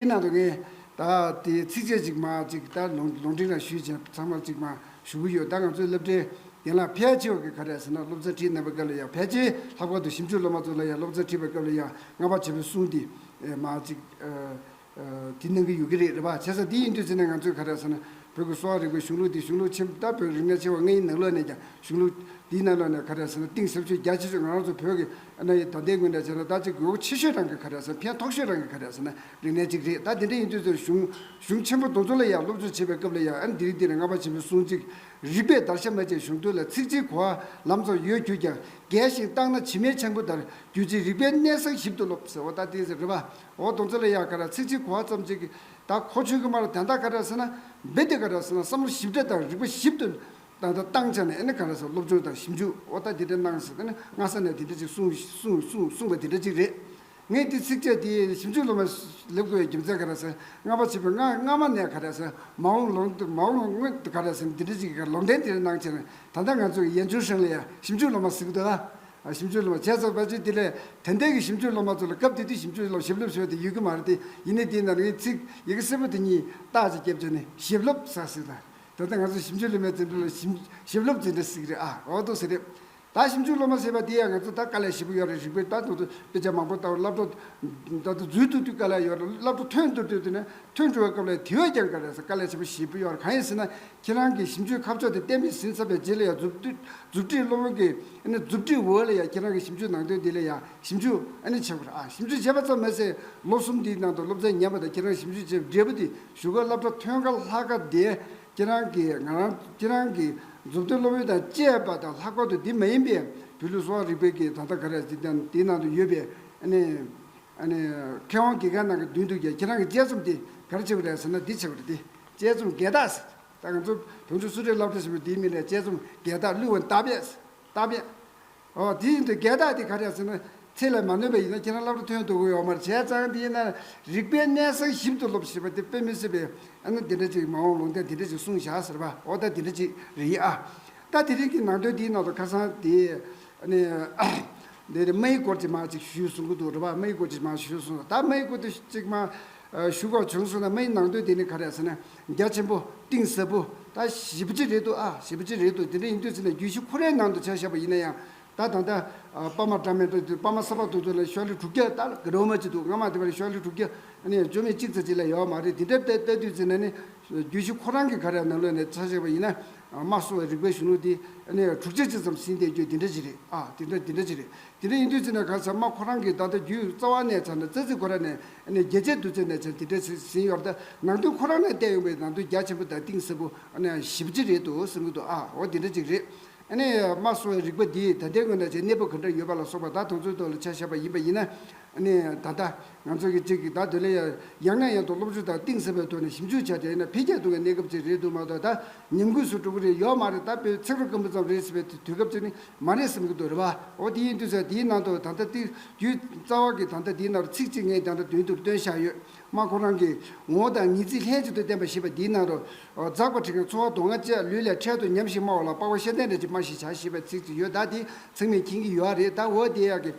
དེའི་ནང་དུ་ངས་ད་ལྟའི་ཚིགས་བཅད་གཅིག་མ་གཅིག་ལྟར་ལུང་ལུང་འདྲེན་རང་ཞུས་བྱས་ཚང་མ་གཅིག་མ་ཞུ་གི་ཡོད་ད་ང་ཚོའི་སློབ་གྲྭའི་རྒན་ལགས་ཕལ་ཆེ་བ་གིས་ག་རེ་ཟེར་ན་སློབ་ཚན་ཁྲིད་གནང་པའི་སྐབས་ལ་ཡང་ཕལ་ཆེ་ལྷག་པར་དུ་ཞིབ་འཇུག་སློབ་མ་ཚོ་ལ་ཡང་སློབ་ཚན་ཁྲིད་པའི་སྐབས་ལ་ཡང་སྔ་བར་བྱས་པའི་གསུང་དེ་མ་གཅིག་དེ་གནང་གི་ཡོད་ཀྱི་རེད་རེད་བ། བྱས་ཙང་དེ་ཡིན་དུས་ཚེ་ནས་ང་ཚོས་ག་རེ་ཟེར་ན་བོད་ཀྱི་གསོ་བ་རིག་པའི་གཞུང་ལུགས་དེ་གཞུང་ལུགས་ཆེན་ད་བོད་རིག་གནས་ཆེ་བ་ལྔའི་ནང་ལོགས་ནས་ཀྱང་གཞུང་ལུགས་དེའི་ནང་ལོགས་ནས་ག་རེ་ཟེར་ན་གཏིང་ཟབ་ཆོས་རྒྱ་ཆེ་ཤོས་ང་རང་ཚོ་བོད་ཀྱི་གནའ་ཡི་དོ་ཟླའི་དངོས་འདྲ་བྱས་ན་ད་ཅི་དགོས་མཁོ་ཆེ་ཤོས་རང་གི་ཁ་རས་སོ་ཕན་ཐོགས་ཤོས་རང་གི་ཁ་རས་སོ་ན་རིག་གནས་གཅིག་རེད་ད་དེ་འདྲ་ཡིན་དུས་ཚོད་གཞུང་གཞུང་ཆེན་པོ་དུང་ཚོ་ལ་ཡང་སློབ་སྦྱོང་བྱེད་པའི་སྐབས་ལ་ཡང་ཨ་འདི་རིགས་འདི་རེད་རྔ་པ་ཆེན་པོའི་གསུང་ཚིག་རིག་པའི་བརྡར་ཤ་མེད་ཅིང་གཞུང་དོན་ལ་ཚིག་གཅིག་གོ་ཨ་ལམ་ཚོ་ཡོད་གྱུར་ཀྱང་རྒས་ཤིང་བརྟགས་ན་བྱི་མའི་ཆང་བུ་ལྟར་གྱུར་ཅིང་རིག་པའི་གནས་བཟང་ཞིབ་ཏུ་སློབ་ཟེར་བ་ད་དེ་རེད་པ་འོ་དུང་ཚོ་ལ་ཡང་ཁ་རས་ཚིག་གཅིག་གོ་ཨ་ཙམ་ཅིག་གིས་ད་ཁོ་ཆུང་གི་མར་དན་རྟགས་ཁ་རས་སོ་ན་འབེ་དེ་ཁ་རས་སོ་ན་བསམ་བློ་ཞིབ་ཕྲ་དང་རིག་པ་ཞིབ་ཏུ་ད་ལྟ་བཏང་ཆ་ནས་ཨེ་ནི་ག་རེ་སོགས་སློབ་སྦྱོང་དང་ཞིབ་འཇུག་འོ་ད་དེ་འདྲ་གནང་ཟེར་ན་སྔ་ས་ནས་དེ་འདྲ་ཅིག་གསུངས་པ་དེ་འདྲ་ཅིག་རེད། ངས་དེ་ཚིགས་བཅད་དེ་ཞིབ་འཇུག་སློབ་མ་ལེབ་དགོས་ཡའི་རྒྱུ་མཚན་ག་རེ་ཟེར་སྔ་བ་བྱས་པའི་སྔ་སྔ་མ་ནས་ག་རེ་ཟེར་མ་འོང་ལོ་མ་འོང་སྔོན་དུ་ག་རེ་ཟེར་འདི་འདྲ་ཅིག་གི་ལོག་འགྲེལ་དེ་འདྲ་གནང་ཆ་ནས་ད་ལྟ་ང་ཚོ་གི་ཡན་ཆུང་ཧྲེང་ལི་ཡ་ཞིབ་འཇུག་སློབ་མ་ཟིག་ཏུ་ཨ་ཞིབ་འཇུག་སློབ་མ་བྱས་ཚར་བ་ཅིག་དེ་ལས་དེ་འདས་ཀྱི་ཞིབ་འཇུག་སློབ་མ་ཚོ་ལ་སྐབས་དེ་དུས་ཞིབ་འཇུག་སློབ་ཞིབ་སློབ་ཞེས་པ་དེ་ཡོད་ཀྱི་མ་རེད་དེ་ཡིན་ནའི་དེའི་ནང་ནས་ངས་ཚིག་ཡི་གེ་སེར་པོ་དེ་གཉིས་རྟགས་ཅིག་བརྒྱབ་ཆ་ནས་ཞིབ་སློབ་ས་ཟིག་དང་ད་ལྟ་ང་ཚོ་ཞིབ་འཇུག་སློབ་མའི་བརྩོན་འགྲུས་ལ་ཞིབ་སློབ་བྱེད་འདྲ་ཟིག་རེད་ཨ། འོ་དོ་ཟེར་རེད། ད་ཞིབ་འཇུག་སློབ་མ་ཟེར་བ་དེ་ཡང་ང་ཚོ་ད་དཀའ་ལས་བཞི་པོ་ཡོད་རེད་རིག་པའི་ལྟ་འདོད་དུ་དཔེ་ཆ་མང་པོ་ལྟ་བར་བསླབ་གྲོགས་ད་དུང་འཛུལ་དུ་དུས་དཀའ་ལས་ཡོད་རེད་བསླབ་གྲོགས་ཐོན་འདོད་དུས་དེ་ནས་ཐོན་འགྲོ་བའི་སྐབས་ལས་དེ་བས་ཀྱང་དཀའ་རེད་ས་དཀའ་ལས་ཆེན་པོ་བཞི་པོ་ཡོད་རེད་གང་ཡིན་ཟེར་ན་ཁྱེད་རང་གི་ཞིབ་འཇུག་ཁ་ཕྱོགས་དེ་བསྟན་པའི་ཟིན་ཚབ་པའི་རྗེས་ལ་ཡང་མཛུབ་མཛུབ་ཁྲིད་སློབ་གི་ཨ་ནི་མཛུབ་ཁྲིད་འོག་ལ་ཡང་ཁྱེད་རང་གི་ཞིབ་འཇུག་ནང་དོན་དེ་ལ་ཡང་ཞིབ་འཇུག་ཨ་ནི་བྱེད་དགོས་རེད་ཨ་ཞིབ་འཇུག་བྱས་པ་ཙམ་མེད་ཚེ་ལོ་གསུམ་དེའི་ནང་དུ་སློབ་ཚན་ཉམས་པ་དང་ཁྱེད་རང་ཞིབ་འཇུག་བྱས་པའི་འབྲས་བུ་དེ་བཞུགས་སྒར་བླ་བྲང་ཐོན་སྐབས་ལྷ་སྐལ་ལྡན་ཁྱེད་རང་གིས་ང་རང་ཁྱེད་རང་གི་མཛུབ་སྟོན་སློབ་ཡོན་དང་བཅས་པ་དང་ལྷག་པར་དུ་འདི་མ་ཡིན་པའི་བོད་ལུགས་གསོ་བ་རིག་པའི་གི་ད་ལྟ་ག་རེ་ཟེར་ཀྱང་དེའི་ནང་དུ་ཡོད་པའི་ཨནི་ཨནི་མཁས་དབང་གི་ག་ནང་གི་མདུན་དུ་ཀྱང་ཁྱེད་རང་གི་དཔྱད་རྩོམ་དེ་ག་རེ་བྱས་པ་རེད་ཟེར་ན་འདི་བྱས་པ་རེད་དེ་དཔྱད་རྩོམ་འགལ་རྟགས་ཟེར་ད་ང་ཚོ་བོད་འབྲུག་སུ་རེད་བླ་བྲང་ཞེས་པའི་དེའི་མིང་ལ་དཔྱད་རྩོམ་འགལ་རྟགས་བསླུས་བ་ལྟ་བས་ལྟ་བས། ཨོ། དེ་བཞིན་དུ་བརྒལ་བརྟག་དེ་ག་རེ་ཟེར་ན། ཚེགས་ལས་མ་ནོན་པ་ཡིན་ན་ཁྱེད་རང་སླར་ཐོན་དུ་འོས་མར་བྱས་ཙང་དེ་ཡིན་ན་རིག་པའི་གནད་གསང་ཞིབ་ཏུ་སློབ་ཞེས་པ་དེ་དཔེ་མི་སྲིད་པས་ཨ་ན་དེ་འདྲ་ཅིག་མ་འོངས་ལུང་བསྟན་དེ་འདྲ་ཅིག་གསུངས་བཞག་ཟེར་བ་ཨོ་ད་དེ་འདྲ་ཅིག་རེད་ཡིན་ཨ། ད་དེ་རིང་གི་ནང་དོན་དེའི་ནང་དུ་ཁ་སང་དེ། ནི། དེ་རེད་རྨ་ཡི་སྐོར་ཅིག་མ་ཅིག་ཞུས་གསུངས་ཀྱི་འདུག་འགྲོ་བ་རྨ་ཡི་སྐོར་ཅིག་མ་ཞུས་གསུངས་སོང་ད་རྨ་ཡི་སྐོར་དུ་ཅིག་མ། བཞུགས་སྒོར་བྱང་སོང་ན་མ་ཡིན་ནང་དོན་དེ་ནི་ག་རེད་ཟེར་ན་རྒྱ་ཆེན་པོ་གཏིང་ཟབ་པོ་ད་ཞིབ་ཕྲི་རེད་འདུག་ཨ་ཞིབ་ཕྲི་རེད་འདུག་དེ་འདྲ་ཡིན་དུས་ཟེར་ན་རྒྱུད་བཞི་ཁོ་རའི་ནང་དུ་བྱ་བཞག་པ་ཡིན་ན་ཡང་ད་ད་ལྟ་པར་མ་འདྲ་མེད་འདུག་དེ་པར་མ་གསར་པ་བཏོན་ཚུན་ལ་ཤོག་ལྷེ་དྲུག་བརྒྱ་ད་ལ་གི་རོ་མ་ཅིག་འདུག་སྔ་མ་དེ་བར་ཤོག་ལྷེ་དྲུག་བརྒྱ་ནི་ཡང་བཅོས་མིན་གཅིག་ཚེ་གཅིག་ལ་ཡོད་མ་རེད་དེ་འདྲ་ལྟ་ལྟ་དུས་ཟེར་ན་ནི་རྒྱུད་བཞི་ཁོ་རང་གིས་ག་རེ་ནང་ལོག་ནས་བྱ་བཞག་པ་ཡིན་ན་མ་གསུང་བའི་རིག་པའི་གཞོན་ནུ་དེ་ནི་ཡང་དྲུག་བརྒྱ་ཅིག་ཙམ་ཟིན་བསྡད་རྒྱུ་དེ་འདྲ་ཅིག་རེད་ཨ་དེ་འདྲ་དེ་འདྲ་ཅིག་རེད་དེ་འདྲ་ཡིན་དུས་ཟེར་ན་ག་ཚར་མ་ཁོ་རང་གིས་ད་ལྟ་རྒྱུད་རྩ་བ་ནས་བྱ་ན་རྩ་ཚིག་གོ་ར་ནས་རྒྱལ་ཆེན་བདུད་རྩི་ནས་ཀྱང་དེ་འདྲའི་ཟིན་ཡོད་རེད་ད། ནང་དོན་ཁོ་རང་ནས་བསྟན་ཡོང་པའི་ནང་དོན་རྒྱ་ཆེན་པོ་དང་གཏིང་ཟབ་པོ་ཞིབ་ཕྲི་རེད་དུ་ཟིན་གི་འདུག་ཨ་འོ་དེ་འདྲ་ཅིག་རེད། དམར་གསོད་བའི་རིག་པ་འདིས་ད་ལྟའི་སྔོན་ན་ཆའི་གནས་བབ་ག་འདྲ་ཡོད་པ་ལ་སོགས་པ་ད་དང་ཚོད་ཐོག་ལ་ཆ་བཞག་པ་ཡིན་པ་ཡིན་ན། ད་ལྟ་ང་ཚོ་གིས་ཅིག་ད་དོན་ལ་ཡང་ན་ཡང་དུ་སློབ་སྦྱོང་དང་གཏིང་ཟབ་པའི་ཐོག་ནས་ཞིབ་འཇུག་བྱ་དེ་ན་འཕེལ་རྒྱས་གཏོང་བའི་གནས་སྐབས་ཅིག་རེད་འདུག་མ་གཏོགས་ད་ཉམས་རྒུད་སུ་གྲོགས་པོ་རེ་ཡོད་མ་རེད་ད་བོད་ཚིག་རོ་སྐམ་པོ་ཙམ་རེད་ཟེར་བའི་དུས་སྐབས་ཅིག་ནི་མ་རེད་བསམ་གྱི་འདུག་རེད་པ། ཨོ་དེ་ཡིན་དུས་ཚོད་འདིའི་ནང་དུ་ད་ལྟ་ཏིལ་རྒྱུའི་རྩ་བ་གི་ད་ལྟ་འདིའི་ནང་རུ་ཚིག་གཅིག་ངས་རྒྱང་ལྟ་དོན་དུ་བཏོན་བཞག་ཡོད། མ་ཁོ་རང་གིས་ངོ་བོ་དང་ངེས་ཚིག་ལྷན་ཅིག་ཏུ་བསྟན་པ་ཞེས་པ་འདིའི་ནང་རུ། འཛག་པ་ཁྲི་ཁའི་འཚོ་བ་མདོ་སྔགས་བཅས་ལུས་ལས་འཕྲལ་དུ་ཉམས་ཤིང་སྨྲ་བ་ལ་དཔའ་བོ་ཤེས་ལྡན་འདྲ་ཅིག་སྨྲ་ཞིག་བྱ་ཞེས་པའི་ཚིག་ཅིག་ཡོད་ད་དེ་ཚང་མས་མཁྱེན་གྱི་ཡོད་ཨ་རེད་ད་འོ་དེ་ཡག་གི།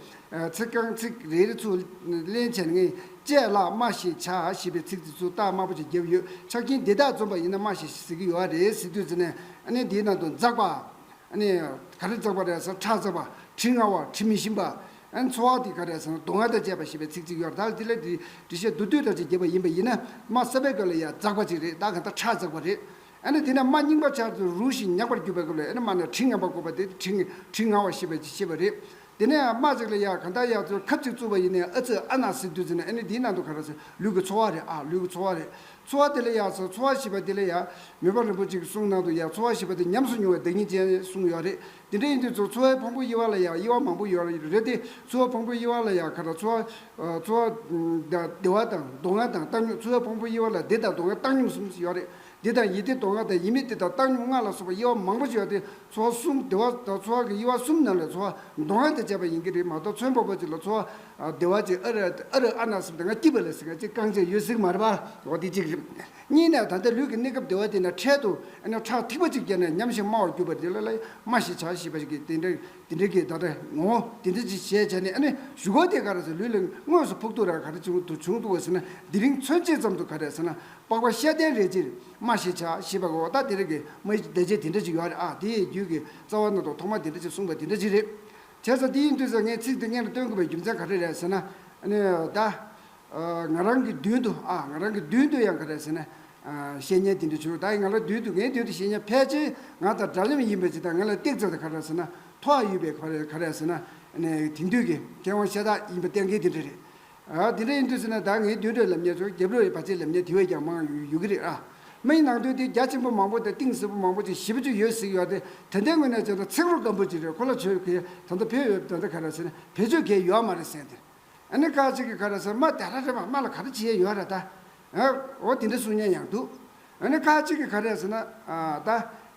ཚིག་རྐང་ཚིག་རེ་རེ་ཚུར་ལེན་བྱས་ན་ངས་དཔྱད་བརླག་སྨྲ་ཞིག་བྱ་ཞེས་པའི་ཚིག་ཅིག་ཚུར་བཏགས་དམར་པོ་ཅིག་བརྒྱབ་ཡོད་ཆ་རྐྱེན་འདི་དག་འཛོམས་པ་ཡིན་ན་སྨྲ་ཞིག་ཟེར་གྱི་ཡོད་ཨ་རེད་ཟེར་དུས་ཚོད་ནས་ཨ་ནི་འདིའི་ནང་དུ་འཛག་པ། ནི། ག་རེ་བརྩེགས་པ་རེད་ཟེར་ཁྲག་བརྩེགས་པ། དྲི་ང་བ་དྲི་མི་ཞིམ་པ། འཚོ་བ་འདི་ག་རེད་ཟེར་ན་སྡུག་བསྔལ་དང་བཅས་པ་ཞེས་པའི་ཚིག་གཅིག་ཡོད་ད་དེ་ལས་འདྲི་བཤད་བསྡུ་བསྡུས་འདྲ་ཅིག་བགྱིས་པ་ཡིན་པ་ཡིན་ན་རྨ་བསལ་བའི་སྐབས་ལ་ཡ་བརྩེགས་པ་ཅིག་རེད་ད་གང་ལྟར་ཁྲག་བརྩེགས་པ་རེད། ནི་དེ་ནས་རྨ་རྙིང་པ་ཆར་དུ་རུ་བཞིན་མྱགས་པར་གྱུར་པའི་སྐབས་ལ་ཡ་ནི་རྨ་ནས་དྲི་ངན་པ་བཀོད་པ་དེ་དྲི་དྲི་ང་བ་ཞེས་པའི་ཤེས་པ་རེད། དེ་ནས་ཨ་མ་ཟིག་ལ་ཡ་གང་ལྟར་ཡག་ཚོད་ཁབ་ཅིག་བཙུགས་པ་ཡིན་ནས་ཨ་ཙི་ཨ་ན་ཟིག་དུས་ཚིགས་ནས་ཨ་ནི་དེའི་ནང་དུ་ག་ར་ཟེར་ལུས་ཀྱི་འཚོ་བ་རེད་ཨ་ལུས་ཀྱི་འཚོ་བ་རེད་འཚོ་བ་དེ་ལ་ཡ་ཟེར་འཚོ་བ་ཞེས་པ་དེ་ལ་ཡ། མེ་འབར་རིན་པོ་ཆེ་གི་གསུང་ནང་དུ་ཡ་འཚོ་བ་ཞེས་པ་དེ་ཉམས་སུ་མྱོང་བའི་བདག་ཉིད་ཅན་གསུངས་ཡོད་རེད་དེ་འདྲ་ཡིན་དུས་ཚོར་འཚོ་བའི་ཕུང་པོ་དབྱེ་བ་ལ་ཡ་དབྱེ་བ་མང་པོ་ཡོད་རེད་དེ་འཚོ་བའི་ཕུང་པོ་དབྱེ་བ་ལ་ཡ་ག་ར་འཚོ་བ། བདེ་བ་དང་སྡུག་བསྔལ་དང་བཏང་སྙོམས་འཚོ་བའི་ཕུང་པོ་དབྱེ་བ་ལ་བདེ་དང་སྡུག་བསྔལ་བཏང་སྙོམས་གསུམ་ཡོད་རེད་འདི་དང་ཡིད་བདེ་དོགས་ལྔ་དང་ཡིད་མི་བདེ་དང་བཏང་སྙོམས་ལྔ་ལ་སོགས་པ་དབྱེ་བ་མང་པོ་ཞིག་ཡོད་དེ། ཚོར་བ་གསུམ་བདེ་བ་དང་ཚོར་བ་གི་དབྱེ་བ་གསུམ་རྣམས་ལས་ཚོར་བ་མདོ་སྔགས་དང་བཅས་པ་ཡིན་གྱི་རིག་མ་གཏོགས་ཚོན་པོ་པོ་ཅིག་ལ་ཚོར་བ་བདེ་བ་ཅིག་ཨ་རི་ཨ་རི་ཨ་ན་སུམ་སྟེ་ང་སྐྱིད་པ་ལས་ཟེར་མཁན་གཅིག་རྐང་རྗེས་ཡོད་ཟིག་མ་རེད་པ། འོ་དེ་གཅིག། གཉིས་ནས་ད་ལྟ་ལུས་ཀྱི་གནས་སྐབས་བདེ་བ་དེ་ནས་འཕྲལ་དུ་ཨ་ནི་ཁྲག་ཐིགས་པ་ཅིག་རྒྱབ་ནས་ཉམས་ཤིང་སྨྲ་བར་གྱུར་པ་འདི་ལ་ལ་སྨྲ་ཞེས་བྱ་ཞེས་པ་ཞིག་གིས་དེ་འདྲ་དེ་འདྲ་གི་ད་ལྟ་ངོ་བོ་དེ་འདྲ་ཅིག་ཞེས་བྱ་ནས་ཨ་ནི་བཞུགས་སྒོ་དེ་ག་རེ་ཟེར་ལུས་ལ་དངོས་སུ་ཕོག་ཐུག་རང་ག་རེ་བྱུང་འདུག་བ་ཟེར་ན་དེ་རིང་ཚོན་ཕྱེད་ཙམ་དུ་ག་རེ་ཟེར་ན་པགས་པ་ཤེལ་ལྡན་རེ་ཅིར་སྨྲ་ཞེས་བྱ་ཞེས་པའི་འོག་ལྟ་དེ་རིགས་ཀྱི་མ་ཡི་བཟླས་བྱའི་དེ་འདྲ་ཅིག་ཡོད་རེ་ཨ་དེ་ཡི་རྒྱུད་ཀྱི་རྩ་བ་རྣོ་དང་ཐོག་མ་དེ་འདྲ་ཅིག་གསུངས་པ་དེ་འདྲ་ཅིག་རེད། དེ་ཚོ་དེ་ཡིན་དུས་ཚོད་ངས་ཚིག་འདི་སྔས་ལ་སྟོན་དགོས་པའི་རྒྱུ་མཚན་ག་རེ་རེད་ཟེར་ན། ད། ང་རང་གི་མདུན་དུ་ཨ་ང་རང་གི་མདུན་དུ་ཡང་ག་རེ་ཟེར་ན། བཤེས་གཉེན་དེ་འདྲ་བྱུང་ད་ཡིན་ང་རང་མདུན་དུ་ངའི་མདུན་དུ་བཤེས་གཉེན་ཕལ་ཆེར་ང་དང་འདྲ་མཉམ་ཡིན་པའི་ཕྱིར་ད་ང་ལ་སྟེགས་བཙལ་ད་ག་རེ་ཟེར་ན་ཐོག་ཨ་ཡོད་པའི་ག་རེ་ཟེར་ན། དེང་དུས་ཀྱི་མཁས་དབང་ཤ་སྟག་ཡིན་པ་གཏན་འཁེལ་དེ་འདྲ་རེད། དེ་འདྲ་ཡིན་དུས་ཟེར་ན་ད་ངའི་བདུད་འདྲེ་ལབ་ཉེར་ཚོར་རྒྱབ་རོལ་ཡི་བ་ཅའི་ལབ་ཉེར་དེ་བས་ཀྱང་མང་ཡོད་ཀྱི་རེད་ཨ། མི་ཡི་ནང་དོན་དེ་རྒྱ་ཆེན་པོ་མང་པོ་དང་གཏིང་ཟབ་པོ་མང་པོ་ཅིག་ཞིབ་ཅིག་ཡོད་ཟིག་ཡོད་དེ་ད་ལྟའི་ངོས་ནས་བྱས་ན་ཚིག་རོ་སྐམ་པོ་ཅིག་རེད་ཁོ་ལ་ཆོས་ཁས་ད་ལྟ་བེད་ཡོད་ད་ལྟ་ག་ར་ཟེར་ན་བེད་སྤྱོད་གས་ཡོད་མ་རེད་ཟེར་དེ་ཨ་ནི་ཀ་ཅིག་གི་ག་ར་ཟེར་མ་དེ་ར་རེད་པ་མ་ལ་ག་ར་བྱས་ཡོད་ར་ད་ཨ་འོ་དེ་འདྲ་གསུང་ཉན་ཡང་འདུག་ཨ་ནི་ཀ་ཅིག་གི་ག་ར་ཟེར་ན་ཨ་ད་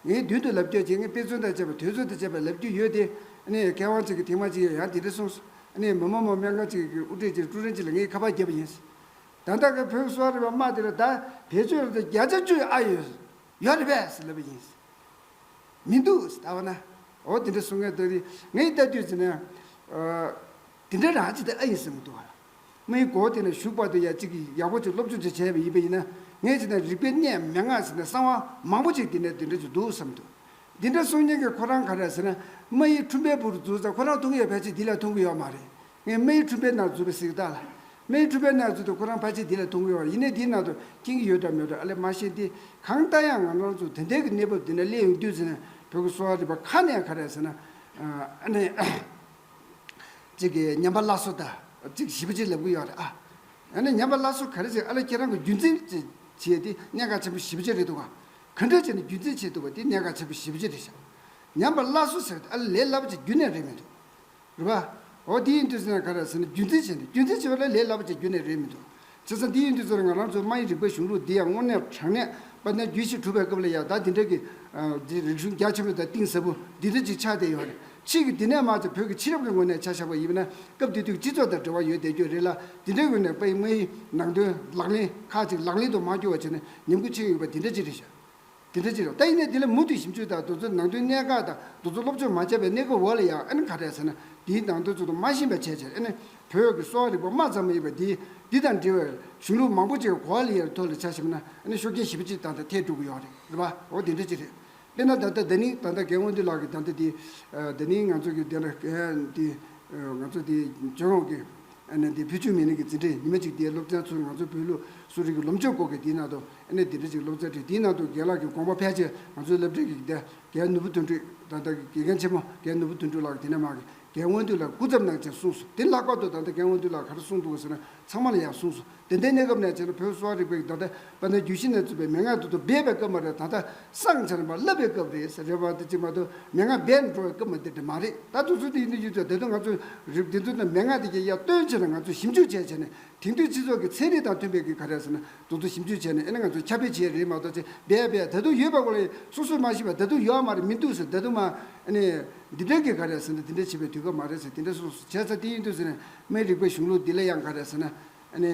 ངའི་མདུན་དུ་ལབ་རྒྱུ་བྱས་ངའི་དཔེ་མཚོན་དང་བཅས་པ་དོལ་ཚོད་དང་བཅས་པ་ལབ་རྒྱུ་ཡོད་དེ་ཨ་ནི་ཡ་གས་དབང་ཅིག་གི་དེ་མ་ཅིག་ཡ་ཡང་དེ་འདྲ་གསུང་ནས་མི་མང་མོ་སྨན་ཁང་གཅིག་གི་དབུ་ཁྲིད་ཅིག་ཀྲུའུ་རེན་གཅིག་ལ་ངས་ཁ་པར་བརྒྱབ་པ་ཡིན། ད་ལྟ་ཁོས་བོད་གསོ་བ་རིག་པ་དམག་དེ་ལ་ད་བེད་སྤྱོད་རོགས་དང་བརྒྱ་ཆ་བཅུ་ཨ་ཡོད། ཡོད་རེད་པས་ཟེར་ལབ་པ་ཡིན། མི་འདུག་ཟེར་ད་བ་ན། འོ་དེ་འདྲ་གསུང་མཁན་ལྟོས་དེ་ངའི་ལྟ་དུས་ཟེར་ན། དེ་འདྲ་རང་ཅིག་ཏུ་ཨ་ཡིན་ཟེར་མི་འདུག་བ། མི་ཡི་གོ་དེ་ན་བཞུགས་བར་དུ་ཡང་ཅིག་ཡག་པོ་ཅིག་སློབ་སྦྱོང་ཅིག་བྱས་པ་ཡིན་པ་ཡིན་ན་ངས་ཅིག་ན་རིག་པའི་གནས་མལ་ངག་ཟེར་ན་གསང་བ་མང་པོ་ཅིག་དེ་ནས་དེ་འདྲ་ཅིག་འདུག་བསམ་འདུག་འདི་འདྲ་གསུང་མཁན་གྱི་ཁོ་རང་ག་རེད་ཟེར་ན། རྨ་ཡི་ཁྲུན་པའི་བུར་འཛུལ་ཙང་ཁོ་རང་མཐོང་གི་ཡོད་ཕལ་ཆེར་འདི་ལ་མཐོང་གི་ཡོད་མ་རེད། ངས་རྨ་ཡི་ཁྲུན་པའི་ནང་འཛུལ་བའི་གཟིགས་རྟགས་ལ། རྨ་ཡི་ཁྲུན་པའི་ནང་འཛུལ་དུས་ཁོ་རང་ཕལ་ཆེར་འདི་ལ་མཐོང་གི་ཡོད་རེད་ཡིན་ནའི་འདིའི་ནང་དུ་སྐྱེན་གྱི་ཡོད་འདྲ་མོད་འདྲ་ཨ་ལས་མ་ཤེས་ཏེ། གང་ལྟར་ཡང་ང་རང་ཚོ་དེ་འདྲའི་གི་གནས་བབ་འདི་འདྲ་སླེབས་ཡོང་དུས་ཟེར་ན་བོད་ཀྱི་གསོ་བ་རིག་པ་ཁ་ནས་ག་རེད་ཟེར་ན། ཨ་ནི། ཅིག་གི་ཉམས་པ་སླར་གསོ་དང་ཅིག་ཞིབ་ཅིག་ལབ་གི་ཡོད་རེད་ཨ། ཨ་ནི་ཉམས་པ་སླར་གསོ་ག་རེ་ཟེར་ཨ་ལས་ཁྱེད་རང་གི་རྒྱུད་འཛིན་ཅིག་བྱས་ཏེ་གནད་འགག་ཆེན་པོ་ཞིབ་ཅིག་རེད་འདུག་ག། གུས་འདུད་བྱས་ནས་རྒྱུད་འཛིན་བྱེད་ཐུབ་པ་དེ་གནད་འགག་ཆེན་པོ་བཞི་པོ་ཅི་རེད་བྱ། ཉམས་པར་སླར་གསོ་ཟེར་བ་དེ་ཨ་ལས་ལས་སླ་པོ་ཆེ་རྒྱུད་ནས་རེད་མི་འདུག། རེད་པ། འོ་དེ་ཡིན་དུས་ཟེར་ན་ག་རེད་ཟེར་ན་རྒྱུད་འཛིན་བྱས་ནས་རྒྱུད་འཛིན་བྱེད་པ་ལས་ལས་སླ་པོ་ཆེ་རྒྱུད་ནས་རེད་མི་འདུག། བྱས་ཙང་དེ་ཡིན་དུས་ཟེར་ན་ང་རང་ཚོའི་རྨ་ཡི་རིག་པ་གཞུང་ལུགས་འདི་ཡང་སྔོན་གནས་དྲང་གནས་པ་ནས་རྒྱུད་བཞི་གྲུབ་པའི་སྐབས་ལ་ཡང་ད་འདི་འདྲ་གི། རིག་གཞུང་རྒྱ་ཆེན་པོ་དང་གཏིང་ཟབ་པོ་འདི་འདྲ་ཅིག་ཆགས་བསྡད་ཡོད་རེད། ཕྱིས་ཀྱི་འདི་ནས་མ་ཚད་བོད་ཀྱི་ཕྱི་རབས་ཀྱི་ངོས་ནས་ཆ་བཞག་པ་ཡིན་པ་ན་སྐབས་དེ་དུས་ཀྱི་སྤྱི་ཚོགས་དང་འབྲེལ་བ་ཡོད་བསྡད་རྒྱུ་རེད་ལ་འདི་འདྲའི་ངོས་ནས་པའི་རྨ་ཡི་ནང་དོན་ལག་ལེན་ཁག་ཅིག་ལག་ལེན་དུ་མ་བསྐྱུར་བ་བྱས་ན་ཉམས་རྒུད་ཆེ་ཡོད་པ་དེ་འདྲ་ཅི་རེད་བྱ། དེ་འདྲ་ཅི་རེད་བྱ། ད་ཡིན་ནའི་དེ་ལ་མུ་མཐུད་ཞིབ་འཇུག་དང་འདུ་འཛོམས་ནང་དོན་གནད་འགག་དང་འདུ་འཛོམས་སློབ་སྦྱོང་མ་བྱས་པའི་གནས་སྐབས་འོག་ལ་ཡང་ཨེ་ན་ག་རེད་ཟེར་ན་འདིའི་ནང་དོན་ཚུལ་དུ་མ་ཤེས་པ་བྱས་བྱས་ཨེ་ན་བོད་ཀྱི་གསོ་བ་རིག་པ་མ་ཙམ་མ་ཡིན་པ་འདི་འདི་དང་འབྲེལ་བའི་གཞུང་ལུགས་མང་པོ་ཅིག་གོ་ཨ་ལི་ཡར་ཐོ་ལ་བྱ་ཞིབ་ན་ཨེ་ན་ཤུགས་རྐྱེན་ཞིབ་ཅིག་ད་ལྟ་ཐེག་འགྲོ་གི་ཡོད་རེད་བ་འོ་དེ་འདྲ་ཅི་རེད། དཔེར་ན་ད་ལྟ་བདག་ནི་ད་ལྟ་རྒན་དབང་འདུས་ལགས་ཀྱི་ད་ལྟ་འདི་ད་ནི་ང་ཚོ་གི་འདི་འདྲ་གི་ང་ཚོ་འདི་ཇོ་ནང་གི། ཨ་ནེ་སྡེ་བུས་ཆུ་མེ་ལིང་གི་འཛིན་གྲྭའི་ཉི་མ་གཅིག་དེའི་སློབ་ཚན་ཚུར་ང་ཚོའི་བོད་ལུགས་གསོ་རིག་གི་སློབ་སྦྱོང་སྐོར་གྱི་དེའི་ནང་དུ་ཨ་ནེ་སྡེ་བུས་ཀྱི་སློབ་ཚན་བྲིས་དེའི་ནང་དུ་དགེ་ལགས་ཀྱི་དགོངས་པ་ཕལ་ཆེར་ང་ཚོའི་སློབ་གྲྭའི་དགེ་རྒན་ནོར་བུ་དོན་འགྲུས་དང་ད་ལྟའི་དགེ་རྒན་ཆེན་མོ་རྒན་ནོར་བུ་དོན་འགྲུས་ལགས་དེ་ནས་མར་རྒན་དབང་འདུས་ལགས་སྐུ་ཚབ་གནང་ཅིང་གསུངས་སོ་དེ་ལྷག་པར་དུ་ད་ལྟ་རྒན་དབང་འདུས་ལགས་ག་རེ་གསུངས་འདུག་ཟེར་ན་ཚང་མ་ལ་ཡང་གསུངས་སོ་དེ་ལྟའི་གནས་སྐབས་ནས་བྱས་ན་བོད་གསོ་བ་རིག་པའི་ད་ལྟ་བ་ནི་རྒྱུད་བཞི་ནས་བཙུད་པའི་མན་ངག་དུ་དུ་སྦས་པའི་སྐབས་མ་རེད་ད་ལྟ་སངས་བྱ་རིམ་པ་བསླབ་པའི་སྐབས་རེད་རེད་བ་དེ་གཅིག་མ་གཏོགས་མན་ངག་སྦས་འགྲོ་བའི་སྐབས་མ་དེ་དེ་མ་རེད་ད་དུ་ཚོད་དེ་ཡིན་དུས་ཡོད་དུས་ད་དུས་ང་ཚོས་རིག་བདེ་འདུལ་དང་མན་ངག་དེ་གྱི་ཡ་སྟོན་བྱས་ན་ང་ཚོས་ཞིབ་འཇུག་བྱས་བྱས་ནས་དེང་དུས་སྤྱི་ཚོགས་ཀྱི་ཚན་རིག་དང་མཐུན་པའི་གི་ག་རེད་ཟེར་ན་དུ་དུ་ཞིབ་འཇུག་བྱས་ནས་ཨེ་ན་ང་ཚོས་ཁྱབ་སྤེལ་བྱས་རེད་མ་གཏོགས་ཅེས་སྦས་སྦས་ད་དུ་ཡོད་པ་གོ་ལ་ཡི་སོ་སོས་མ་ཤེས་པ་ད་དུ་ཡོད་མ་རེད་མི་འདུག་ཟེར་ད་དུ་མ་ཨེ་ནས་འདི་འདྲའི་གི་ག་རེད་ཟེར་ནས་དེ་འདྲའི་བྱེད་པའི་དུས་སྐབས་མ་རེད་ཟེར་དེ་འདྲའི་སོ་སོས་བྱས་ཚར་དེ་ཡིན་དུས་ཟེར་ནས་སྨན་རིག་པའི་གཞུང་ལུགས་འདི་ལ་ཡང་ག་རེ་ཟེར་ན། ཨནི།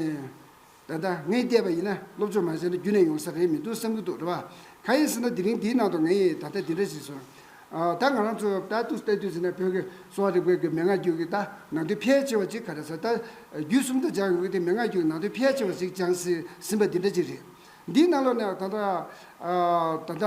ད་ལྟ་ངས་བལྟས་པ་ཡིན་ན་སློབ་ཆུང་མ་ཟེར་ན་རྒྱུན་ནས་ཡོང་ས་རེད་མི་འདུག་བསམ་གྱི་འདུག་རེད་བ། གང་ཡིན་ཟེར་ན་དེ་རིང་འདིའི་ནང་དུ་ངས་ད་ལྟ་འདི་འདྲ་ཞིག་བཟོས། ད་ང་རང་ཚོས་ལྟ་དུས་བལྟས་དུས་ཟེར་ན་བོད་ཀྱི་གསོ་བ་རིག་པའི་གི་མན་ངག་རྒྱུད་ཀྱི་ད་ནང་དོན་ཕལ་ཆེ་བ་ཅིག་ག་རེ་ཟེར་ད་རྒྱུད་གསུམ་དུ་སྦྱངས་ཡོང་གི་དེ་མན་ངག་རྒྱུད་ཀྱི་ནང་དོན་ཕལ་ཆེ་བ་ཞིག་སྦྱངས་ཟིན་པ་འདི་འདྲ་ཅིག་རེད། འདིའི་ནང་ལོགས་ནས་ད་ལྟ།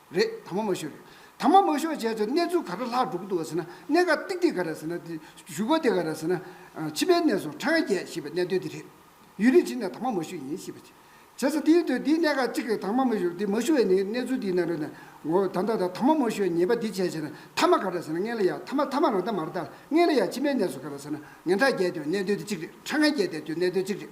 རེད་དམ་མ་ཤོད་རེད་དམ་མ་མ་ཤོད་བྱས་ཚོད་གནས་ཚུལ་ག་ར་ལྷག་འགྲོ་གི་འདུག་ག་ཟེར་ན་གནད་འགག་ཏིག་ཏིག་ག་ར་ཟེར་ན་དེ་བཞུགས་པ་དེ་ག་ར་ཟེར་ན་ཕྱི་པའི་གནས་སུ་ཁྲ་ང་རྒྱལ་ཞེས་པའི་གནས་དོན་དེ་རེད་ཡུལ་རིས་ཕྱི་ནས་དམ་མ་མ་ཤོད་ཡིན་ཞེས་པ་བྱས་ཚེ་དེའི་དོན་དེའི་གནད་འགག་གཅིག་རེད་དམ་མ་མ་ཤོད་དེ་མ་ཤོད་བའི་ནི་གནས་ཚུལ་དེའི་ནང་རེད་ངོ་ད་ལྟ་དང་དམ་མ་མ་ཤོད་ཉེས་པ་དེ་བྱས་བྱས་ན་ཐ་མ་ག་ར་ཟེར་ན་ངན་ལ་ཡག་ཐ་མ་ཐ་མ་རང་ཐ་མར་ལྟ་ངན་ལ་ཡག་ཕྱི་མའི་གནས་སུ་ག་ར་ཟེར་ན་ངན་ཐ་རྒྱལ་དེ་གནད་དོན་དེ་གཅིག་རེད་ཁྲ་ང་རྒྱལ་དེ་གནད་དོན་གཅིག་རེད་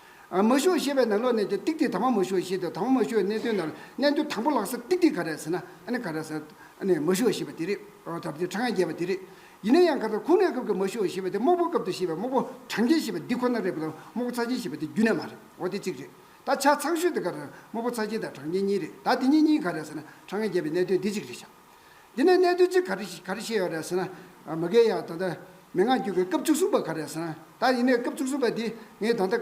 མ་ཞུགས་ཞེས་པའི་ནང་ལོགས་ནས་ཀྱང་ཏིག་ཏིག་དང་པོ་མ་ཞུགས་ཞེས་དང་དང་པོ་མ་ཞུགས་གནད་དོན་ནང་གནད་དོན་དང་པོ་ལགས་ས་ཏིག་ཏིག་ག་རེད་ཟེར་ན་ཨ་ནི་ག་རེད་ཟེར་ཨ་ནི་མ་ཞུགས་ཞེས་པ་དེ་རེད་ད་བར་དུ་ཕྲ་ངས་རྒྱས་པ་དེ་རེད། ཡིན་ན་ཡང་ག་ཚོད་ཁུངས་ལེན་སྐབས་ཀྱི་མ་ཞུགས་ཞེས་པ་དེ་དམག་དཔུང་སྐབས་དུ་ཞེས་པའི་དམག་དཔུང་གྲངས་ཅན་ཞེས་པ་འདི་ཁོ་ན་རེད་པ་དང་དམག་དཔུང་ཚགས་ཆེན་ཞེས་པ་དེ་རྒྱུན་ལས་མ་རེད་འོ་དེ་གཅིག་རེད་ད་ཆ་ཚགས་ཤོས་དེ་ག་རེད་དམག་དཔུང་ཚགས་ཆེན་དང་གྲངས་ཅན་གཉིས་རེད་ད་དེ་གཉིས་གཉིས་ག་རེད་ཟེར་ན་ཕྲ་ངས་རྒྱས་པའི་གནད་དོན་འདི་གཅིག་རེད་བཞག་འདི་ནས་གནད་དོན་གཅིག་ག་རེ་བཤད་ཡོད་རེད་ཟེར་ན། མི་རྒན་ཡག་ད་ལྟ་མི་ངག་འགྱུར་བའི་སྐབས་བཅུ་གསུམ་པ་ག་རེད་ཟེར་ན། ད་ཡིན་ནའི་སྐབས་བཅུ་གསུམ་པ་འདི་ངས་ད་ལྟ་